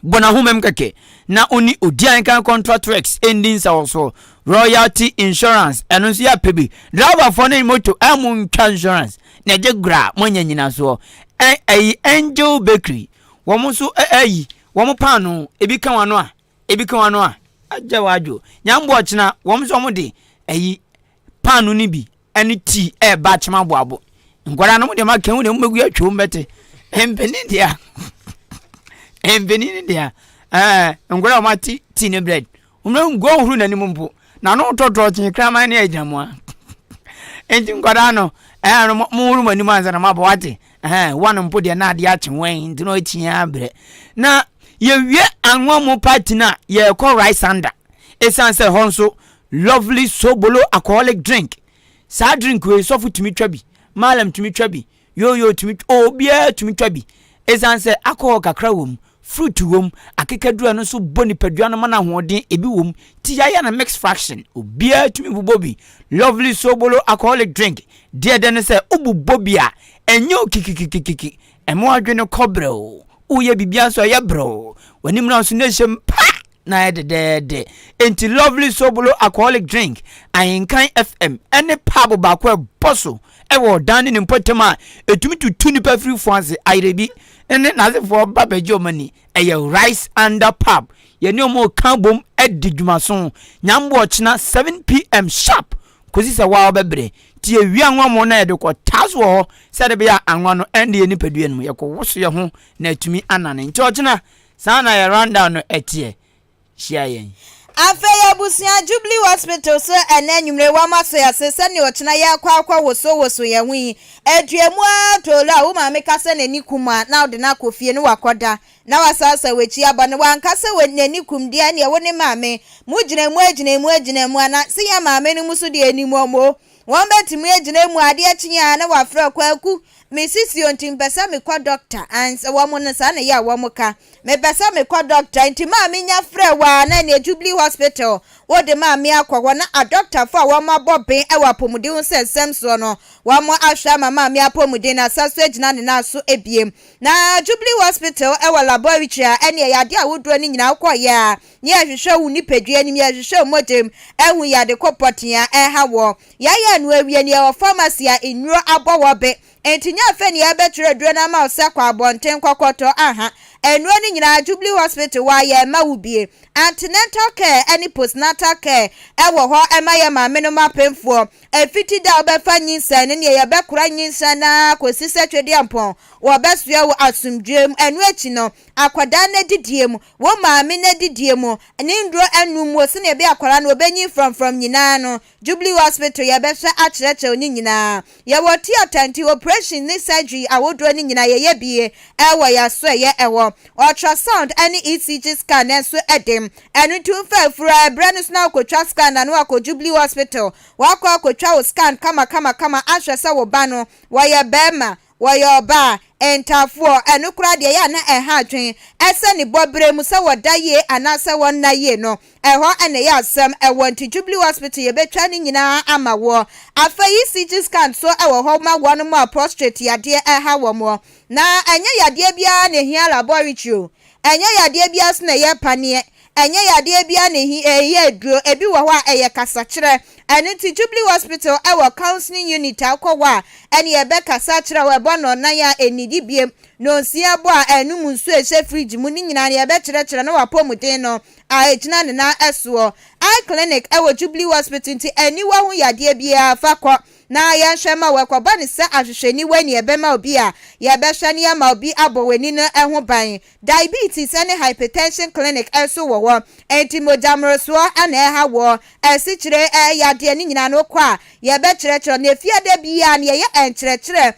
bɔ n'ahomam kɛkɛ na ɔne odian kan kɔntra trex ndi nsaw so royalty insurance ɛno nso yɛ apɛ bi driver fɔ ne moto a mo ntwa insurance na ɛgye gora mo anya nyina soɔ ɛyi angel bakery wɔn nso ɛyi wɔn paano ebi ka wɔn ano a ebi ka wɔn ano a agya wɔn adwo nyambo ɔkyena wɔn nso wɔn de ɛyi paano no bi ne tii ɛreba akyem aboabo. Nkwadaa no mo deɛ maka ho deɛ mobɛgu atwa mu bɛte. Mpanin deɛ mpanin deɛ ɛɛ nkwadaa wɔn ate tii ne bread. Wɔn na ngu ahuru n'anim mpo na no tɔtɔ kye kraman ne agyina mu a. Nti nkwadaa no ɛɛ no mo huru mo anim ansa na mo abɔ wate. Ɛɛ wɔn mpo deɛ na adeɛ akye wɔn nti na ɔkyi abrɛ. Na yɛwie anwa mu party no a yɛrekɔ rice under. Ɛsiane sɛ hɔ nso Lovely Sobolo alcoholic drink saa drink wei sɔfo tumi twa bi maalam tumi twa bi yooyoo tumi twa obiara tumi twa bi ɛsan sɛ alcohol kakra wɔ mu fruit wɔ mu akekaduru ɛno nso bɔ nipadua no ma no ahoɔden ebi wɔ mu ti yaya na mix fraction obiara tumi bobɔ bi Lovely Sobolo alcoholic drink deɛ dɛ no sɛ wobobɔ bi a ɛnyɛ o kikikikikiki ɛmo adwene kɔbrɛ o woyɛ biribiara nso ɛyɛ brɛw w'ani mmra nso na ɛhyɛ mu pa na ayɛ dɛdɛɛdɛ enti lovely sobolo alcoholic drink ahenkan fm ɛne paabo baako a ɛbɔ so ɛwɔ ɔdan ne ne mpɔtam a ɛtumi tutu nnipa firi fo ase ayerɛ bi ne n'asefoɔ ba bɛgye ɔma ni ɛyɛ rice under pub yɛne ɔmo ka bom adi dwumaso nyambo ɔkyena 7pm sharp kɔsi sɛ woa wobɛbrɛ. Nti yɛwia anwa mo na yɛde kɔ taa so wɔ hɔ sɛ ɛde bɛyɛ a anwa no ɛnde yɛn nipadua no mu, yɛkɔwoso yɛn ho na atumi anane. Nti ɔkyena, saa na yɛn rundown no teɛ. Hyia yɛn. Afei abusua, Jubilee Hospital so ɛnnɛ anwummere wɔama so ase sɛnea ɔkyena yɛkɔ akɔ woso woso yɛn ho yi. Ɛdua mu ara toloo a wo maame ka sɛ n'ani ku mu a na wode no akɔ fie ne wakɔda. na wasaasaw w'akyi abɔ no, wanka sɛ wɔ nea ne kum deɛ neɛ wo ne maame mo gyina mu agyina mu agyina mu ana se yɛn maame no mu so deɛ ɛnim wɔn o wɔn bɛtumi agyina mu adeɛ kye a na wafrɛ kwaku me sisi o nti mpɛ sɛ mekɔ dɔkta ans wɔn no saa na ɛyɛ a wɔn ka mepɛ sɛ mekɔ dɔkta nti maame nya frɛ wɔ a na neɛ jubilee hospital wo de maame akɔ hɔ na adɔktafo a wɔn abɔ ben ɛwɔ apɔmuden ho sɛ nsɛm soɔ no wɔn ahwɛ ama maame apɔmuden no asa so agyina ne nan so ɛbiem Na Jubilee Hospital wɔ laboratory a ɛne ɛyɛ adeɛ ahodoɔ no nyinaa wokɔ yɛ a ne yɛhwehwɛ wo nipadua anim yɛhwehwɛ wo mogyam ahu yɛ ade kɔ pɔtee a ɛha woɔ yɛayɛ no awie no yɛwɔ pharmacy a nnuro abɔ hɔ be nti nyɛ afei ne yɛbɛtwerɛ aduro no ama wo sɛ kɔ abɔnten kɔ kɔtɔ aha nnuro no nyinaa Jubilee Hospital wɔ a yɛma wo bie antenatal care ne postnatal care wɔ hɔ ɛma yɛ maame nom apemfoɔ Efi ti dɛ a wobɛfa nyinsɛn no nea yɛbɛkora nyinsɛn no ara kosi sɛ Twedeampɔn wɔbɛsoɛ wo asomdwoe mu. Ɛno akyi no, akwadaa no adidie mu, wo maame no adidie mu, ne nnuro anum mu, sɛnea ɛbɛyɛ a akwadaa no obenyin frɔmfrɔm nyinaa no, Jubilee Hospital yɛbɛhwɛ akyerɛkyerɛ wo ne nyinaa. Yɛwɔ theatre nti oprehyɛn ne surgery ahodoɔ no nyinaa yɛyɛ bi wɔ yɛn asoɛeɛ hɔ. Ultrasound ne ECG scan nso de Ɛno nti womfa afuru a ɛbrɛ no so na wokotwa scan na no akɔ Jubilee Hospital. Woakɔ akotwa wo scan kamakamakama ahwɛ sɛ wo ba no, wɔyɛ barima, wɔyɛ ɔbaa, ntafoɔ, ɛno koraa deɛ ɛyɛ a na ɛha adwene, ɛsɛ ne bɔ berɛ mu sɛ wɔda yie anaasɛ wɔnna yie no, ɛhɔ na ɛyɛ asɛm wɔ. Nti Jubilee Hospital yɛbɛtwa ne nyinaa ama woɔ. Afei ECG scan nso wɔ hɔ ma wɔnom a prostrate yadeɛ ɛha wɔn. Na ɛnyɛ yadeɛ biara na ɛhia laboratory o, Ɛnyɛ yadeɛ biara so na ɛyɛ paneɛ. Ɛnyɛ yadeɛ biara na ɛhi ɛyɛ aduro. Ɛbi wɔ hɔ a, ɛyɛ kasakyerɛ. Ɛno nti Jubilee Hospital wɔ counselling unit a wokɔ hɔ a, ɛneɛ ɛbɛkasa akyerɛ wo, ɛbɔ nnɔnnan a ɛnnidi bio, nnɔnsia bɔ a ɛnnom nsuo a ɛhyɛ fridge mu, ne nyinaa no yɛbɛkyerɛkyerɛ na w'apɔmuden no a ɛgyina ne nan soɔ. Eye clinic wɔ Jubilee Hospital nti aniwa ho yadeɛ biara fa kɔ na yɛnhwɛ mma wɔankɔbɔ no sɛ ahwehwɛniwa nea ɛbɛma obi a yɛbɛhwɛ no ama obi abɔ wɔn ani no ho ban. Diabetes ne hypertension clinic nso wɔ hɔ. Enti mogya mmorosoɔ na ɛha woɔ? Asikyire yadeɛ no nyinaa no wokɔ a, yɛbɛkyerɛkyerɛ wo. Na efie da biara no yɛyɛ nkyerɛkyerɛ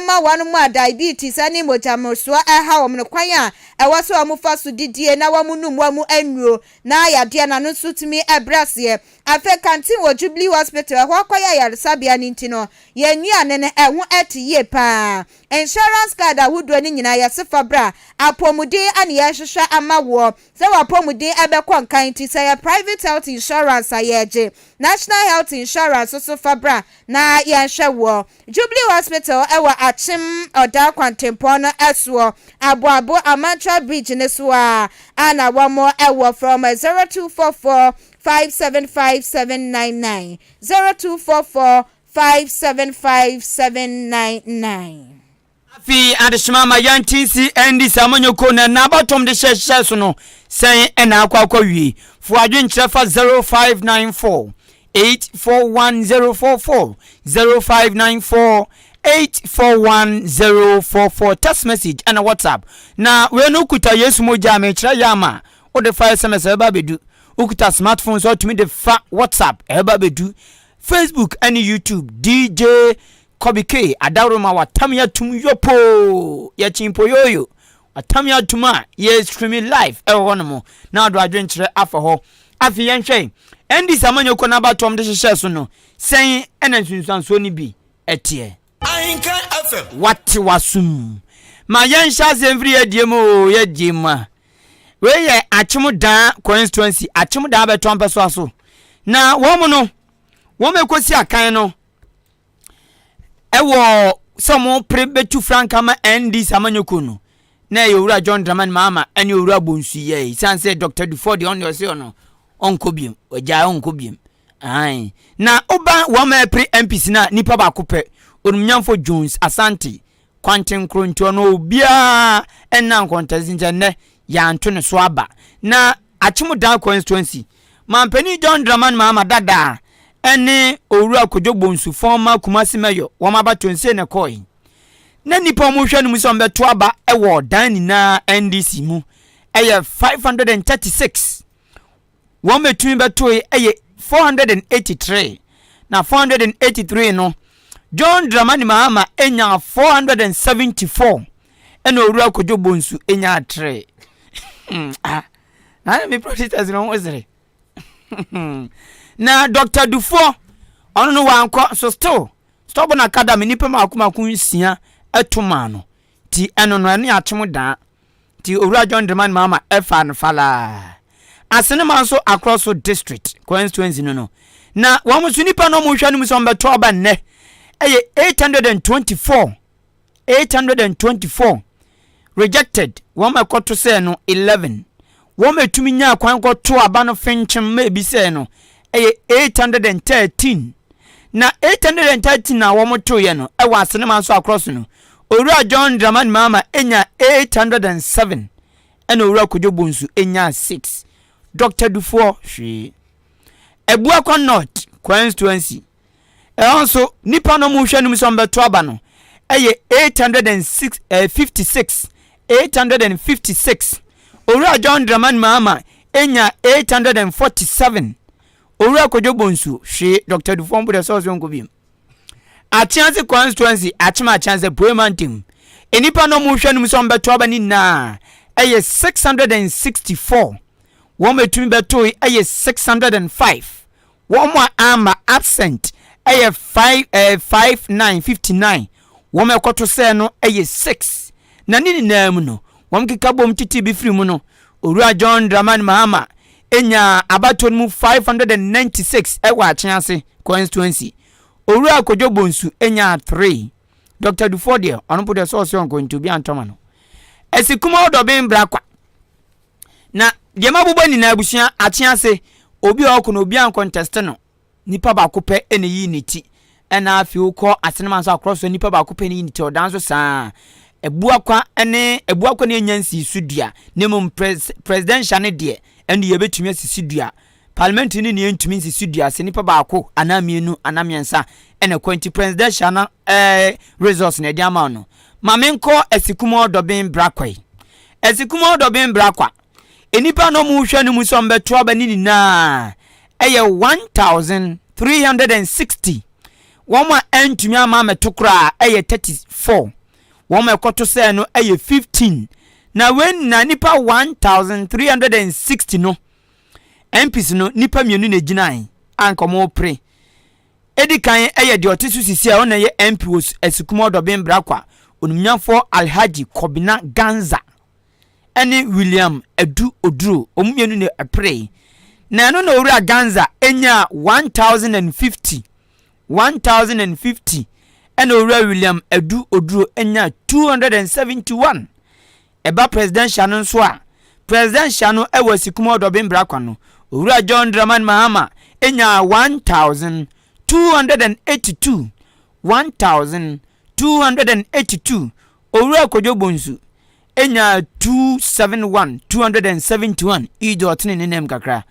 ma wɔn a diabetes ne mogya mmorosoɔ ha wɔn no kwan a ɛwɔ sɛ wɔfa so didie na wɔnom wɔn nnuro na yadeɛ no ano nso tumi brɛ aseɛ. Afei kantin wɔ Jubilee Hospital, ɛhɔ akɔyɛ ayaresabea no nti no, yɛn nnuane no, ɛho te yie pa ara. Insurance card ahodoɔ no nyinaa yɛse fa bra, apɔmuden na yɛrehwehwɛ ama woɔ. Sɛ w'apɔmuden bɛkɔ nkan nti, sɛ ɛyɛ private health insurance a yɛregye, national health insurance nso fa bra na yɛnhwɛ woɔ. Jubilee Hospital wɔ Akyem Ɔdaa kwantempɔn no soɔ, Aboabo Amantra Bridge no so ara na wɔwɔ, frɛ wɔn 0244 five seven five seven nine nine, zero two four four five seven five seven nine nine. Afei adesoma ama yɛnte nsi ndi saa amanyɔkuo no ɛna abatoɔm de hyɛhyehyɛ so no sɛn ɛna akɔ akɔ wie. Fo adwenkyerɛ fa 0594 841044, 0594 841044 text message ɛna WhatsApp na wei no kuta Yesu mogya a mekyerɛ yɛ ama wode fa SMS a ɛbɛba abɛdu Okuta smart phone sɛ ɔtumi de fa WhatsApp ɛba bɛdu Facebook ɛne YouTube DJ Kobe K adaworo ma watam yɛ atum yɔpoo yɛ kyimpo yoyo watam yɛ atum a yɛ streaming live ɛwɔ hɔ nom na ɔdo adwenkyerɛ afa hɔ afei yɛnhwɛ NDC amanyɔkuo no abatoɔm de hyehyɛ so no sɛn ɛna nsunsuansoɔ no bi ɛteɛ. Ahenkan FM. Wate w'asom. Ma yɛnhyɛ aseɛ mfiri yɛadie mu o, yɛadie mu a. Wei yɛ Akyemdaa constituency, Akyemdaa bɛtɔ mpɛsoa so. Na wɔn no, wɔn ɛkɔsi akan no ɛwɔ sɛ wɔn pere bɛtu franka ma NDC amanyɔkuo no na ɛyɛ owura John Dramani Mahama ɛne owura Bonsu yɛ. Ɛsiane sɛ Dr. Dufo deɛ ɔno deɛ ɔse ɔno ɔnkɔ biem, ɔgyae ɔnkɔ biem. Ae, na woba wɔma ɛpere MPs no a nipa baako pɛ, Onumnyamfo Jones Asante Kwanten Nkrontuo no obiara nna nkɔntɛnse nti ɛnnɛ yɛanto ne so aba. Na Akyemudaan Constituency, Manpanin John Dramani Mahama dada ne Owura Kojo Bonsu former Kumasi Mayor wɔn abatoɔ no sei na ɛkɔɔe. Na nipa wɔhwɛ no mu sɛ wɔbɛto aba wɔ dan nyinaa NDC mu ɛyɛ 536. wɔn bɛtumi bɛtoe yɛ 483 na 483 no John Dramani Mahama nyaa 474 ɛna Owura Kojo Bonsu nyaa 3 hmm, ah, na me protesters no ho sere na Dr. Dufoɔ ɔno no wankɔ so still stubborn academy nipa mako mako nsia ɛto maa no Ti ɛno no ɛne akyem daa. Ti Owura John Dramani Mahama ɛfaa no falaa. Asenema nso akorɔ so district, constituency no no. Na wɔn nso nipa no wɔn hwɛ no mu sɛ wɔn bɛtɔ aba nnɛ ɛyɛ 824, 824 rejected wɔn ɛkɔto sɛɛ no 11. Wɔtumi nyaa kwan kɔtoo aba no fenkyem ma ebisɛe no, ɛyɛ 813. Na 813 a wɔtoeɛ no wɔ Asenema nso akorɔ so no, Owura John Dramani Mahama nyaa 807, ɛna Owura Kojo Bonsu nyaa 6. Dɔkta Dufoɔ, hwee. Abuakwa North constituency. Ɛhɔ nso, nnipa no a wɔrehwɛ anim sɛ wɔbɛto aba no yɛ 806 ɛɛ 56 856. Owura John Dramani Mahama nyaa 847. Owura Kojo Bonsu hwee Dr. Dufour mpo dɛ sɛ ɔsɛ ɔnkɔ biom. Akyease constituency Akyem Akyease Pue Mantam. Nnipa no a wɔrehwɛ anim sɛ wɔbɛto aba no nyinaa ɛyɛ 664. Wɔn a ɛtumi bɛtoe ɛyɛ 605. Wɔn a amma, absent, yɛ five ɛɛ five nine, fifty nine. Wɔn a ɛkɔto sɛɛ no yɛ six. Na ne nyinaa mu no, wɔn keka bom titiri bi firi mu no, Owura John Dramani Mahama nyaa abatoɔ no mu five hundred and ninety six wɔ Akyease constituency. Owura Kojo Bonsu nyaa three. Doctor Dufour deɛ, ɔno mpo deɛ sɛ ɔse ɔnkɔ nti obi antɔ ma no. Ɛsi Kumaw Dɔben Brakwa. Na deɛ mabobɔ nyinaa abusua akye ase obi a ɔko no obi ankɔntɛste no nipa baako pɛ na eyi ne ti ɛna afei wokɔ asenema nso akorɔ so nipa baako pɛ na eyi ne ti ɔdan nso saa abuakwa ne abuakwa ne enya nsii so dua ne mu presidential ne deɛ ɛne yɛbɛtumi asisi dua Parliament ne nea entumi nsi so dua se nipa baako anaa mmienu anaa mmiɛnsa na ɛkɔ nti presidential no eh results na ɛde ama wo no ma menkɔ Asikum Ɔdɔben Brakwa yi Asikum Ɔdɔben Brakwa nnipa na ɔmo hwɛ no mu sɛ ɔmo bɛto aba ne nyinaa ɛyɛ 1360 wɔn a ɛntumi ama amɛto koraa ɛyɛ 34 wɔn a ɛkɔto sɛɛ no ɛyɛ 15 na wei nyinaa nipa 1360 no MPs no nnipa mmienu na ɛgyinaeɛ a anka wɔrepere. Ɛdi kan yɛ deɛ ɔte so sisi a ɛwɔ na ɛyɛ MP wɔ Asukumaa Ɔdɔben Brakwa, Onimnyafoɔ Alhaji Kobina Ganza ɛne William Adu Oduro, wɔn mmienu na ɛperee. Na ɛno na Owura Ganza ɛnyaa 1050, 1050 ɛna Owura William Adu Oduro ɛnyaa 271. Ɛba Presidential no nso a, Presidential no wɔ Asikum Ɔdɔben Bra Kwa no, Owura John Dramani Mahama nyaa 1,282, 1,282, Owura Kojo Bonsu nyaa 271, 271, Ijo ɔtene ne nan mu kakra,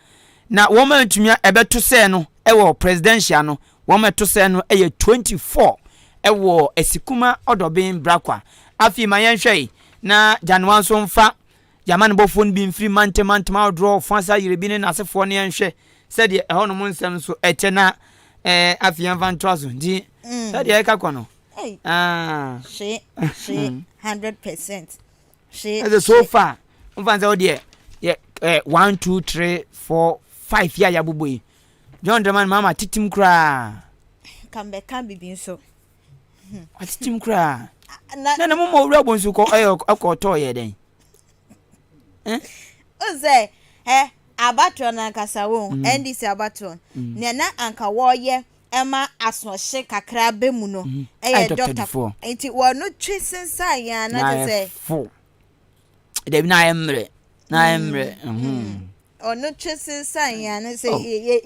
na wɔn a atumi a ɛbɛto sɛɛ no wɔ Presidential no Wɔn a ɛto sɛ no yɛ 24 wɔ Asikuma Ɔdɔben Brakwa. Afei ma yɛnhwɛ yi, na Gyanwa nso mfa y'amanebɔfoɔ no bi mfiri Mantam mantam ahodoɔ Ɔfɔnsa Yerebi ne n'asefoɔ no yɛnhwɛ sɛdeɛ ɛhɔ nom nsɛm nso ɛkyɛ na ɛɛ afei yɛnfa ntoa so nti mm. sɛdeɛ ɛka kɔ no Hey. Ah. She, she, hmm. hundred percent. She. Ɛsɛ so far. N fa n sɛ o deɛ yɛ ɛ one two three four five yɛ a yabobɔ yi John Dramani Mahama atetem koraa. Nka mɛka bibi nso. Atetem koraa. Na na mo ma owura bonsu kɔ ɛyɛ ɛkɔ ɔtɔ yɛ dɛn? O sɛ ɛ abatoɔ no ankasa wo NDC mm. abatoɔ mm. nea na anka wɔyɛ ɛma asoɔhye kakra bɛ mu no ɛyɛ dɔktafoɔ nti wɔn no twe sensan yɛn anagye sɛ. dabi na ayɛ mmerɛ na ayɛ hmm. mmerɛ hmm. ɔno twe sensan yɛn ano sɛ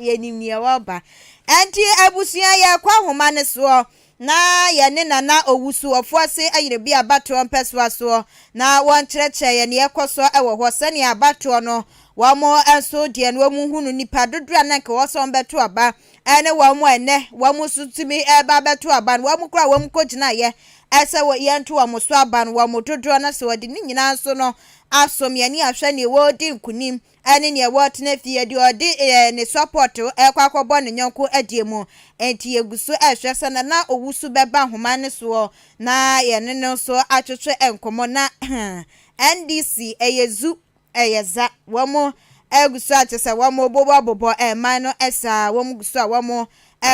yɛnim oh. nea wɔba ɛnti abusua yɛkɔ ahoma no soɔ na yɛne nana owusu ɔfoɔ se ayere bi abatoɔ mpɛsoa soɔ na wɔnkyerɛkyerɛ yɛn nea ɛkɔ soɔ ɛwɔ hɔ sɛnea abatoɔ no wɔn nso deɛ no wɔn hunu nipa dodoɔ a na nka wɔsɔn bɛto aba ɛne wɔn a ɛnnɛ wɔn nso tumi reba abɛto aban, wɔn koro a wɔn kɔgyinaeɛ ɛsɛ wɔ yɛnto wɔn so aban, wɔn dodoɔ no sɛ wɔde ne nyinaa nso no asom yɛn ne ahwɛ neɛ wɔredi nkunim ɛne neɛ wɔretena fie, deɛ ɔde ɛɛ ne support ɛrekɔ akɔbɔ ne nyɔnko adie mu. Enti yɛgu so ɛrehwɛ sɛ na na owusu bɛba nhoma no soɔ na yɛne no nso atwetwe nkɔmmɔ na NDC ɛyɛ zu Ɛyɛ dza wɔrogu so akyɛ sɛ wɔbobɔbobɔ man no saa a, wɔgu so a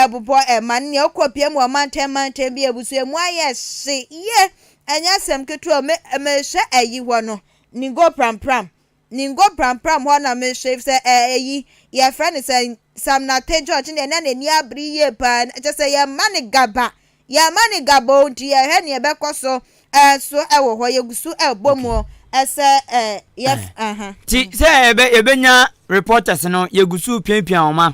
wɔbobɔ man no. Nea ɔkɔ pia mu wɔ mantam mantam bi ebusua mu ayɛ hye yie. Ɛnyɛ asɛm ketewa o. Me, mehwɛ ayi hɔ no, Ningo Prampram, Ningo Prampram hɔ na mehwɛ efisɛ ɛɛ eyi, yɛfrɛ no sɛ Sam Nartey George no deɛ na n'ani abere yie paa. Kyerɛ sɛ yɛmma no gaba, Yɛn mma ne gaboo nti yɛhwɛ nea ɛbɛkɔ so eh, so ɛwɔ hɔ yɛgu so eh, bɔ mu eh, sɛ eh, yɛf eh. Uh -huh. Ti sɛ ɛbɛ yɛbɛnya reporters no yɛgu so piapia wɔn ma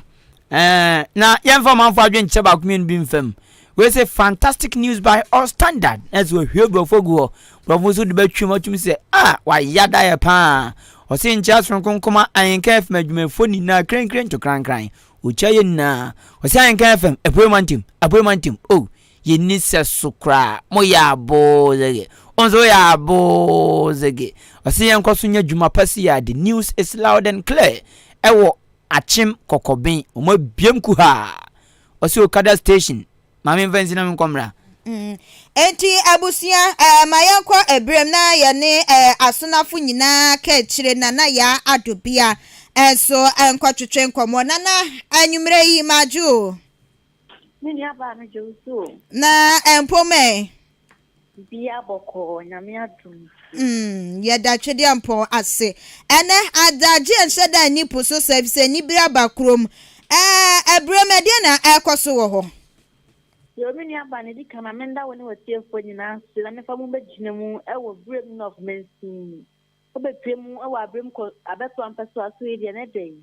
eh, na yɛmfa ɔmanfo adwene nkyɛ baako mmienu bi mfam wei sɛ fantastic news by all standard na sɛ wɔhwie borɔfo gu hɔ borɔfo nso de bɛtwam atumi sɛ a ah, wayɛ daeɛ paa ɔse nkyɛ soronko nkoma ahenka afim adwumayɛfoɔ nyinaa krenkren to krankran Ɔkyia yɛn nyinaa. Ɔsɛ Anka FM, Apuei Mantam, Apuei Mantam, oh, yɛn ni sɛ so koraa, mo yɛ aboo zege, wo nso woyɛ aboo zege. Ɔsɛ yɛn kɔ so nya dwuma pa si ya, the news is loud and clear, ɛwɔ Akyem Kɔkɔben, wɔn abiem kuhaa. Ɔsɛ Okada station, Ma me nfa nsi na me nkɔ mmra. Enti abusua, eh, ma yɛnkɔ abirem na yɛne, eh, asonafo nyinaa ka akyire Nana Yaa Addo Bia eh, nso nkɔtwetwe nkɔmmɔ. Nana, anwumerɛ yi, magye o. Me nuabaa, megye wo so o. Na eh, mpoma eh. Bia bɔkɔɔ Nyame adom nti. Umm yɛda Twedeampɔn ase. Ɛnɛ adagye nhyɛ da nni po so saa efisɛ anibere aba kurom. Ɛɛ abirem ɛdeɛn na ɛrekɔ so wɔ hɔ? Yoo me nua baa na edi kan ma menda wo ne w'atiefoɔ nyinaa ase na mefa mo bɛgyina mu wɔ birem North mansin. Wobɛpue mu wɔ abirem kɔ abɛto ampɛsoa so yi deɛ ne dɛn?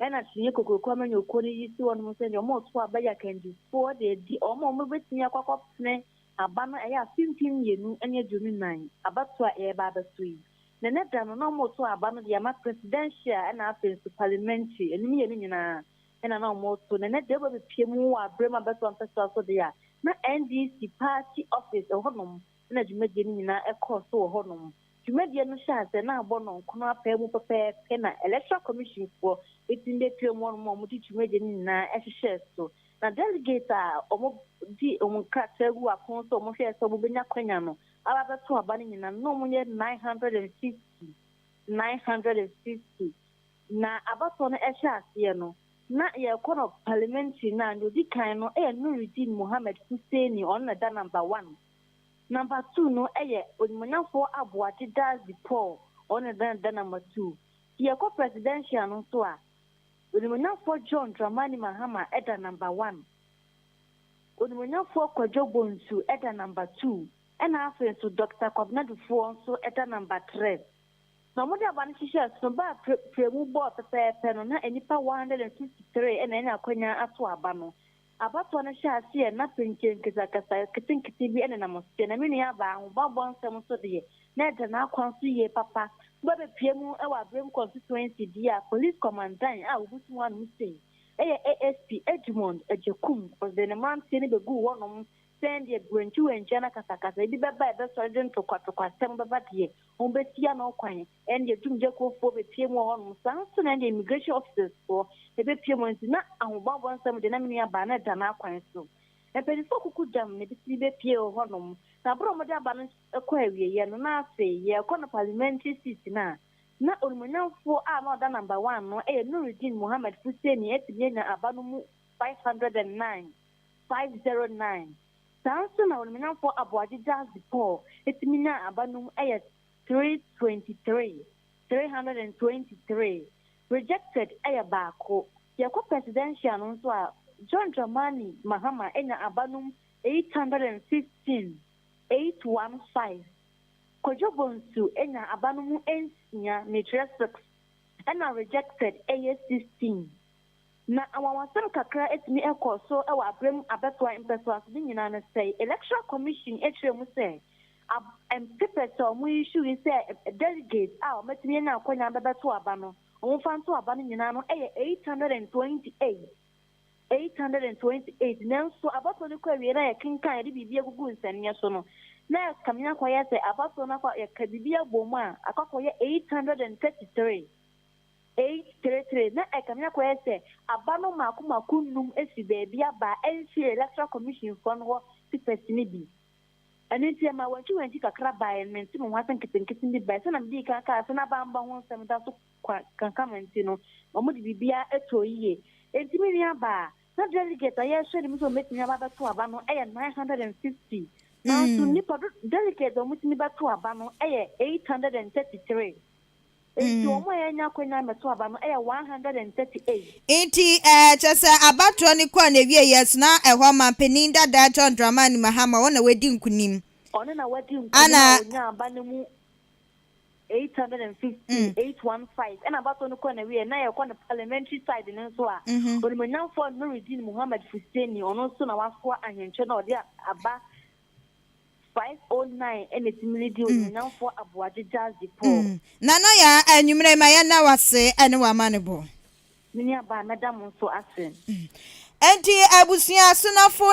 Ɛna kyiniiɛ kokroko a manya okuo no yi si wɔnom sɛ deɛ wɔreto aba yi akandifoɔ de adi wɔn a wɔbɛtumi akɔ akɔpene Aba no ɛyɛ afe mpem mmienu ne aduonu nnan abatoɔ a ɛreba abɛso yi, na ɛnɛ da no na wɔreto aba no de ama Presidential ɛna afei nso Parliamentary, ɛno mmienu nyinaa ɛna na wɔreto, na ɛnɛ da wobɛ bɛpue mu wɔ aberɛ mu abatoɔ mpɛsoa so deɛ a, na NDC party office ɛwɔ hɔ nom ɛna dwumadie no nyinaa ɛrekɔ so wɔ hɔ nom. Dwumadie no hyɛ aseɛ na abɔ nɔnko no apɛɛ mu pɛpɛɛpɛ na Electoral Commission foɔ bɛtumi bɛpiam wɔnom a wɔde dwumadie no nyinaa hyehyɛɛ so. Na Delegates a wɔde wɔn nkrataa guu apono so a wɔhwɛɛ sɛ wɔbɛnya akwanya no aba abɛto aba no nyinaa no na wɔyɛ nine hundred and fifty, nine hundred and fifty. Na abatoɔ no hyɛ aseɛ no na yɛrekɔ no Parliamentary no a deɛ ɔdi kan no yɛ Nurudeen Mohammed Hussaini ɔno na ɛda number one. Number two no yɛ Onimuonyamfoɔ Aboagye Dadzie Paul ɔno na ɛbɛn da number two. Sɛ yɛkɔ presidential no nso a, Onimuonyamfoɔ John Dramani Mahama da number one, Onimuonyamfoɔ Kwadwo Bonsu da number two, ɛna afei nso Doctor Kwabena Dufoɔ nso da number three. Na wɔde aba no hyehyɛɛ so no baa prɛmu bɔɔ pɛpɛɛpɛ no na nnipa one hundred and fifty three na anya akwanya ato aba no Abatoɔ no hyɛɛ aseɛ na penkye nkesakasa ketenkete bi nenam aseɛ na me nua baa ahobammɔ nsɛm so deɛ na ɛda n'akwan so yie papa ba bɛpue mu wɔ Abrem Constituency deɛ a Police Kɔmandan a ɔbutu mu anom sei yɛ ASP Edmond Agyekum ɔde ne mmeranteɛ no bɛguu hɔnom sɛn deɛ berɛntiwɛntia na kasakasa bi bɛba a ɛbɛsɔre de ntokwatokwasɛm bɛba deɛ, wɔbɛsi ano kwan, ɛne deɛ tumgyakuofoɔ bɛpue mu wɔ hɔnom, saa nso na ɛne deɛ immigration officers foɔ bɛpue mu, ɛnti na ahobammɔ nsɛm deɛ na me nua baa no ɛda n'akwan so. Mpaninfoɔ kuku gyam na ɛbɛtumi bɛpue wɔ hɔnom, na berɛ a wɔde aba no kɔ awieɛ no na afei yɛrekɔ no parliamentary seat no a, na onimuonyamfoɔ a na ɔda number one no ɛyɛ Nurudeen Mohammed Fuseni atumi anya aba no mu 509. 509. Saa ara nso na Ɔnimonyamfoɔ Aboagyegya de Paul tumi nyaa aba no mu yɛ 323, 323. Rejected yɛ baako. Yɛkɔ Presidential no nso a, John Dramani Mahama nya aba no mu 815, 815. Kwadwo Bonsu nya aba no mu nsia, mekyerɛ six, ɛna rejected yɛ 16, Na anwanwasɛm kakra atumi ɛkɔ so wɔ abrɛm abɛtoa mpɛsoaso no nyinaa no sɛe electoral commission ɛkyerɛ mu sɛ ab papers a wɔn issuing sɛ delegates a wɔn atumi anya akwanya bɛbɛto aba no wɔn mfa nto aba no nyinaa no ɛyɛ 828 828 nanso abatoɔ no kɔ awie na yɛ kenkan yɛde biribi agugu nsɛnneɛ so no na ɛkame akɔyɛ sɛ abatoɔ no akɔ yɛka biribi abom a akɔ akɔyɛ 833 Eight three three, Na ɛkame akɔyɛ sɛ aba no mako mako nnum fi baabi aba a ɛnhye Electoral Commission foɔ no hɔ te pɛsini bi. Ɛno nti ɛmaa wankyiwankyi kakra baeɛ, mente me ho ase nketenkete bi baeɛ. Sɛdeɛ medii kan kaa sɛ na bambɔ ho nsɛm da so kwa kankama nti no, wɔde biribiara too yie. Enti me nua baa, na delegate a yɛrehwɛ anim sɛ wɔbɛtumi aba abɛto aba no yɛ nine hundred and fifty, nanso nnipa do, delegates a wɔtumi bɛto aba no yɛ eight hundred and thirty three. Enti wɔn a yɛanya akwanya ammɛto aba no yɛ 138. Enti ɛɛ, kyerɛ sɛ abatoɔ no kɔɔ n'awieɛ yɛ so na ɛhɔ manpanin dadaa John Dramani Mahama ɔno na wadi nkunim. Ɔno na wadi nkunim a ɔnyaa aba no mu 815, 815, ɛna abatoɔ no kɔɔ n'awieɛ na yɛkɔ no parliamentary side no nso a, Onimuonyamfoɔ Nurudeen Mohammed Fuseini ɔno nso na wasoa ahenkyɛ no a ɔde aba 509 na etumi de di Onuonyamfoɔ Aboagye Gyasi Paul. Nana Yaa, anwummerɛ yi ma yɛnna wo ase ɛne w'amanebɔ. Me nuabaa mɛda mo nso ase. Enti abusua asonafo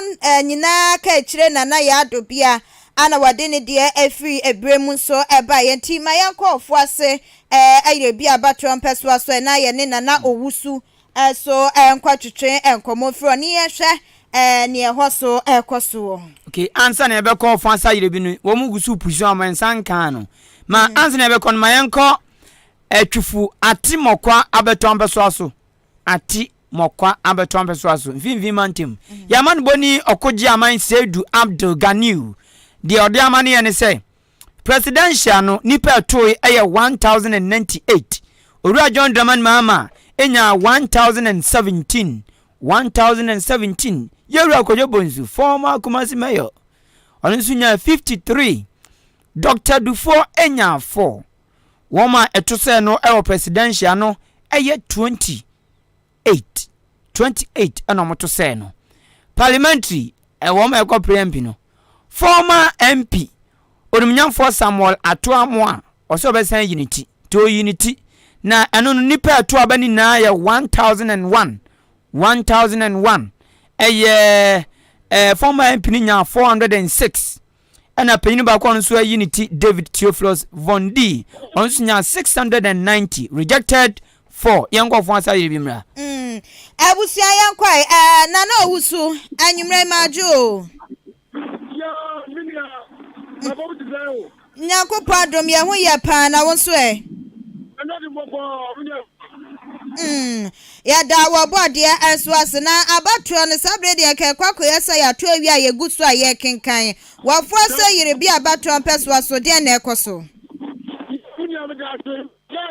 nyinaa ka akyire Nana Yaa Dobia a na wɔde ne deɛ ɛfiri ɛberɛ mu nso baeɛ. Nti ma yɛnkɔ ɔfoɔ ase ɛyere bi abatoɔ mpɛsoa so ɛna yɛne Nana Owusu So ɛnkɔtwetwe nkɔmmɔ mfiri hɔ, na yɛnhwɛ nea ɛhɔ so rekɔ so wɔ. Okay, ansa na yɛbɛkɔ ɔfa sa yerɛ bi no, wɔn gu so pusu ama nsa nkaa no. Ma mm. ansa na yɛbɛkɔ no, ma yɛnkɔ ɛtwifo ati mɔkwa abɛtɔ ampɛsoa so. Ati mɔkwa abɛtɔ ampɛsoa so. Mfinfin mantam. Mm. Yɛama no bɔ ni ɔkogye aman Seidu Abdul Ganiu. Deɛ ɔde ama no yɛ ne sɛ, Presidential no nipa ɛtooe ɛyɛ one thousand and ninety eight, Owura John Dramani Mahama ɛnyaa one thousand and seventeen, one thousand and seventeen, Yawura Kojo Bonsu, former Kumasi Mayor, ɔno nso nyaa fifty three, Doctor Dufour ɛnyaa four, wɔn a ɛto sɛɛ no ɛwɔ Presidential no ɛyɛ twenty. eight twenty eight ɛna wɔto sɛɛ no parliamentary ɛwɔ ma ɛkɔ prayer mpi no former mp onimnyamfoɔ samuel ato amo a ɔsɛ ɔbɛsan yi ne ti nti ɔyi ne ti na ɛno no nnipa ɛto aba no nyinaa yɛ one thousand and one one thousand and one ɛyɛ ɛɛ former mp no nyaa four hundred and six Ɛna panyin baako a ɔno nso ayi ne ti David Theophilus von D. Ɔno nso nyaa 690 rejected for yɛn nkɔfo asa yɛ bi mmra. Mm, abusua yɛn kɔe ɛɛ na na owu so anwummerɛ yi madwo o. Nyankopɔn adom yɛn ho yɛ paa na wo nso ɛ. Mm. Yɛda wo Ɔbɔadeɛ nso ase. Na abatoɔ no, saa berɛ deɛ nka ɛkɔ akɔyɛ sɛ yɛato awie a yɛgu so a yɛrekenkan. W'afoa sɛ yere bi a abatoɔ mpɛsoa so, deɛn na ɛrekɔ so? Me nua meda ase sɛ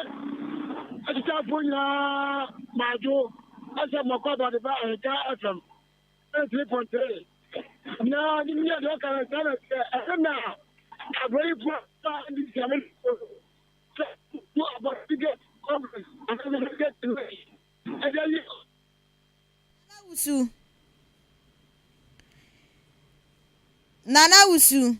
akyitaafoɔ nyinaa madwo sɛ mɔkɔ abɔde ba Ahika FM 93.3 na nim yɛ deɛ ɔka no saa na ɛsɛ ɛsɛ na abrɛyifoɔ ba ndi sɛ me sɛ wokɔ abɔdedɛ conference anaasɛ medical technology ɛde ayɛ ɔ. Nana Wusu Nana Wusu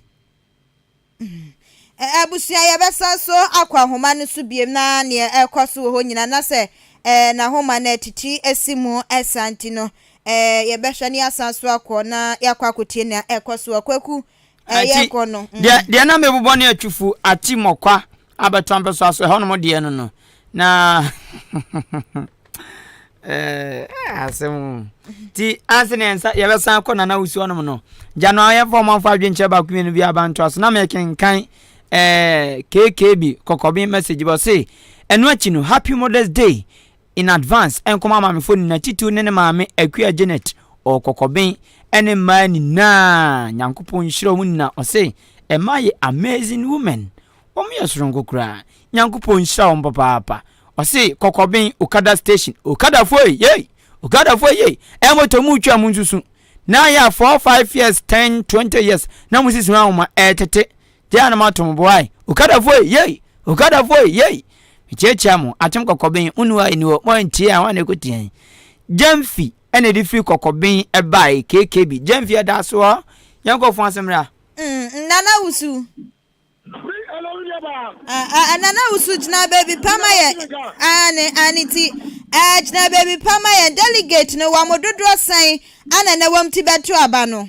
Ɛ Abusua yɛbɛsan so akɔ ahoma no so biom na neɛ ɛrekɔ so wɔ hɔ nyina na sɛ ɛ nahoma no ɛtiti asi mu saa nti no ɛ yɛbɛhwɛ ne yɛasan so akɔ na yɛakɔ akɔtie nea ɛrekɔ so wɔ Kwaku ɛyɛ kɔ no. Mm. Deɛ, deɛ na mebobɔ ne atufu ati mmɔkwa abɛtɔ mpɛso aso ɛhɔ nom deɛ no no na eh, asɛm nti anse ne nsa yɛbɛsan kɔ nana wosi hɔ nom no gya no ayɛmfa ɔmanfo adwenkyerɛ baako mmienu bi abantoa so na mekenkan eh, kkb kɔkɔben message bɔ se ɛno akyi no happy mothers day in advance nkɔma maamefo nyinaa titiriw ne ne maame Akua Janet ɔɔ Kɔkɔben ɛne mmaa nyinaa Nyankopɔn nhyira ɔmo nyinaa ɔse mmaa yɛ amazing women ɔmo yɛ soronko koraa Nyankopɔn nhyira ɔmo papaapa ɔse Kɔkɔben okada station okadafoɔ ei yei okadafoɔ yei ɛɛ moto mu twa mu nsusu na yɛ a four five years ten twenty years na mo sisi ho ahoma ɛɛtete Gye a na matom boae. Okada foe, yei! Okada foe, yei! Mekyeakyea mo, atem kɔkɔben, wonni hɔ a enni hɔ, mo a entie a, hwan na ekotia yɛn? Gyamfi na ɛde firi kɔkɔben bae, KKB. Gyamfi ɛda so hɔ, yɛn nkurɔfo ho asɛm ra. Mm, Nana Wusu. Free hello nuabaa. Ah, ah, Nana Wusu, gyina baabi pa ma yɛn. Aane, aane ti. Eh, gyina baabi pa ma yɛn. Delegate no, wɔn dodoɔ sɛn ana na wɔn ti bɛto aba no?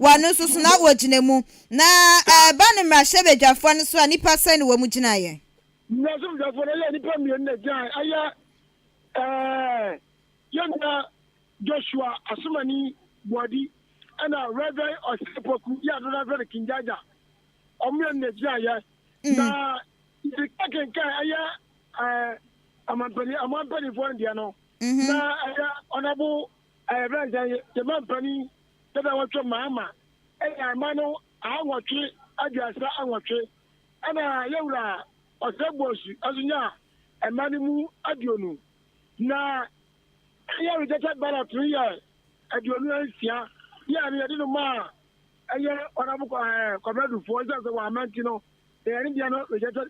Wɔ no nso so na wɔgyina mu. Na ɛreba no mmarahyɛbadwafoɔ no so a, nnipa sɛn na wɔn gyinaeɛ? Mmarahyɛbadwafoɔ no yɛ nnipa mmienu na ɛgyinaeɛ. Ɛyɛ eh, yɛn nua Joshua Asomani Boadi ɛna Rev. Osei Opoku, yɛ a dodoɔ no ara frɛ no King Jaja. Wɔn mmienu na ɛgyinaeɛ. Mm. Na yɛka kenkan ɛyɛ eh, amanpani, aman mpanimfoɔ no deɛ no, mm -hmm. na ɛyɛ Honorable Ɛyɛ berɛ a nka yɛn mampanin dada Wɔtwe Mahama ɛyɛ ama no aha nwɔtwe aduasa nwɔtwe ɛna yɛwura Ɔsɛ Boasu nso nyaa mma no mu aduonu na ɛyɛ rejected ballot no yɛ aduonu nsia yɛ no yɛde no maa ɛyɛ Ɔnabo Kwabena Dufoɔ ɛsiane sɛ wɔamma nti no ɛyɛ ne deɛ no rejected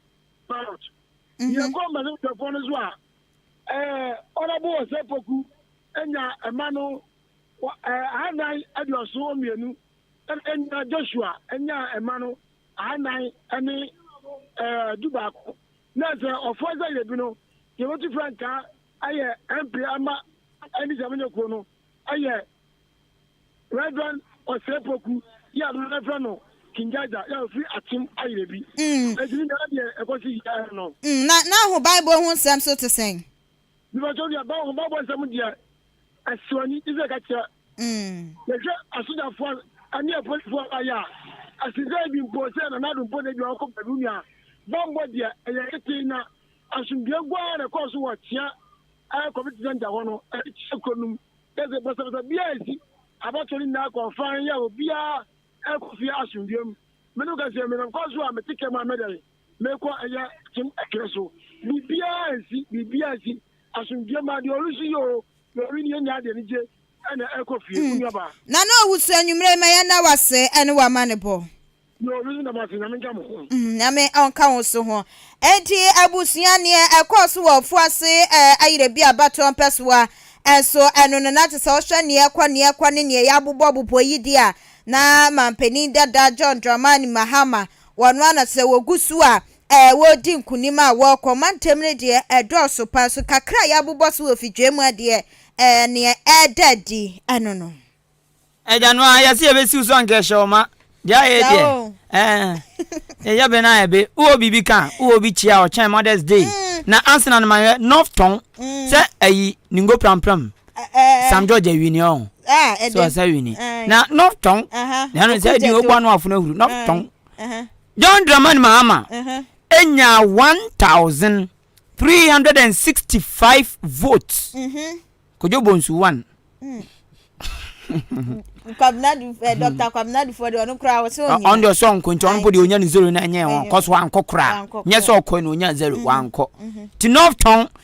ballot. Yɛkɔ mmarahyɛbadwafoɔ no so a ɛyɛ Ɔnabo Ɔsɛ Poku nya mma no wɔ ahannan aduɔson mmienu na Joshua nyaa mma no ahannan ne dubaako. Na sɛ ɔfoɔ sɛ yɛbi no, yɛbɛtu frankaa ayɛ MP ama ɛne sɛ monyɛ kuo no yɛ Reverend Osei-Poku yɛ a dodoɔ frɛ no King Jaja yɛ a ɔfiri Akyem Ayerɛbi. Ɛti ne nyinaa deɛ ɛkɔ so yia no. Na na ho Bible ho nsɛm so te sɛn? Mepatwɔ nua bɛn ho bɛbɔ nsɛm deɛ ɛsɔ ani te sɛ kakyia yɛ hwɛ asogyafoɔ ɛne apolisifoɔ ba yɛ a ɛsen sɛ ebi mpo sɛ nana ado mpo na ebi ɔkɔ baabi wo nua bambɔ deɛ ɛyɛ ketee na asomdue gu ara na ɛkɔɔ so wɔ kyea ɛɛ community center hɔ no ɛne kyea kuro nom yɛ sɛ basabasa biara esi abatoɔ ne nyinaa kɔɔ fan yɛ obiara ɛkɔ fie asomdue mu mene wo kɛseɛ menam kɔɔ so a mete kɛm a mɛdɛn Mekɔ ɛyɛ kyem ɛkerɛ so. Biribiara nsi, biribiara nsi. Asomdwoeɛ ma deɛ ɔresu yi oo, na ɔwe nie nyɛ ade anigye ɛna ɛrekɔ fie. Wo nuabaa. Nana Owusu anwummerɛ yi ma yɛn da wo ase ɛne wo amanebɔ. Deɛ ɔwe yi da mo ase, Nyame nka mo ho. Nyame ɔnka wo nso ho. Enti abusua neɛ ɛkɔɔ so wɔ Ofuase ɛɛ ayerɛ bi a Batɔ Mpɛsoa nso ɛno no na tesɛ wohwɛ neɛ ɛkɔ neɛ ɛkɔ ne neɛ yɛabobɔ bobɔ yi deɛ a na manpanin dada John Dramani Mahama Wɔn a na sɛ wɔgu so a, ɛɛ, wɔredi nkonim a wɔrekɔ ɔmantam no deɛ, ɛdɔɔso pa ara. So kakra a yɛabobɔ so wɔ fidwee mu deɛ, ɛɛ, nea ɛreda adi no no. Agya no ara, yɛse yɛbɛsiw so anka ɛhyɛ wo ma. Deɛ ayɛ deɛ, ɛɛ, yɛyɛ bɛ no ayɛ be. Wowɔ biribi ka a, wowɔ bi kyia a, ɔkyɛn Mother's Day. Na Arsenal no mahwɛ, North Tɔn, sɛ ayi, ne ngo prampram. Sam George awini ɔn sɛ ɔsɛ awini na nɔf tɔn na ɛno sɛ ɛdi ɔbɔ ano afono ahuru nɔf tɔn John Dramani Mahama enya one thousand three hundred and sixty five votes mm-hmm. Kojo Bonsu one. Mm. kwabinadu ɛ eh, dɔkta kwabinadu fɔ de ɔno kura ɔsɛ ɔnyɛ ɔn de ɔsɛ ɔnkɔ nti ɔno po de onya ne zero na ɛnyɛ wɔn kɔ so wankɔ kura nyɛ sɛ ɔkɔ na onya zero wankɔ ti nɔf tɔn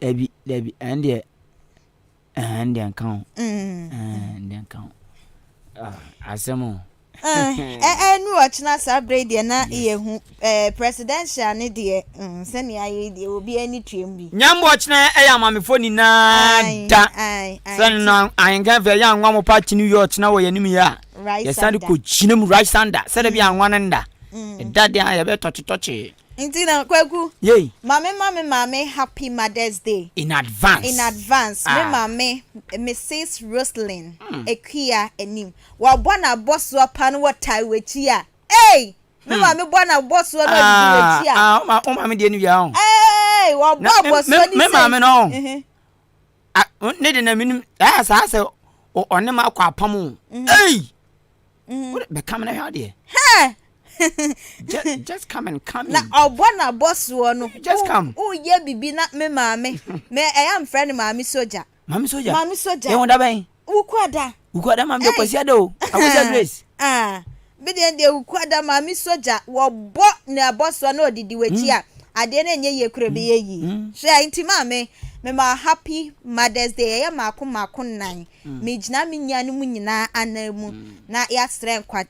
Dabi dabi ɛndeɛ ɛɛ ɛndeɛ nka ho. Mm. Ɛɛ ɛndeɛ nka ho. Ah, asɛm o. ɛnu ɔkyena saa berɛ deɛ na yɛhu presidential ne deɛ mm, sɛnea ayɛ deɛ obi ani tuam bi nyambo ɔkyena ɛyɛ amamefo nyinaa da sɛne no ahenka fɛ yɛ anwa mo pa kyene wie ɔkyena wɔ yɛnim yɛ a yɛsane kɔgyina mu right sander sɛdɛ bi mm. anwa no nda ɛda mm. deɛ a yɛbɛtɔkyetɔkye Nti na kwaku. Yei. Mame ma me maame happy mother's day. In advance. In advance ah. Me maame Mrs Roselyn mm. Akua anim. Wabɔ na bɔsoɔ pa no wɔ tae w'akyi a. Ei! Me hmm. maame bɔ na bɔsoɔ no ɔdidi ah, w'akyi a. Ah, ah, o maame deɛ no wia ho. Ei! Wabɔ bɔsoɔ ni sɛ. Me maame no ho. Mhm. Ah, ne de na menim. Ɛyɛ saa sɛ ɔne ma akɔ apam o. Mhm. Ei! Mm. Bɛ kam na hwɛ adeɛ. just, just come and come na ɔbɔ na bɔ soɔ no. just come. o yɛ bibi na me maame me ɛyɛ eh, nfrɛ no maame soja. maame soja maame soja. ɛwɔ da bɛn. wukuada. wukuada maame de kwasi ada o akwasi ah, grace. Ah, bi deɛ deɛ wukuada maame soja wɔbɔ na ɛbɔ soɔ na ɔdidi w'akyi a. Mm. Adeɛ no ɛnyɛ yie kura bi yɛ yie hwɛ nti maame me ma happy mother's day ɛyɛ maako maako nan me gyina me nua no mu nyinaa anan mu na yasrɛ nkwa.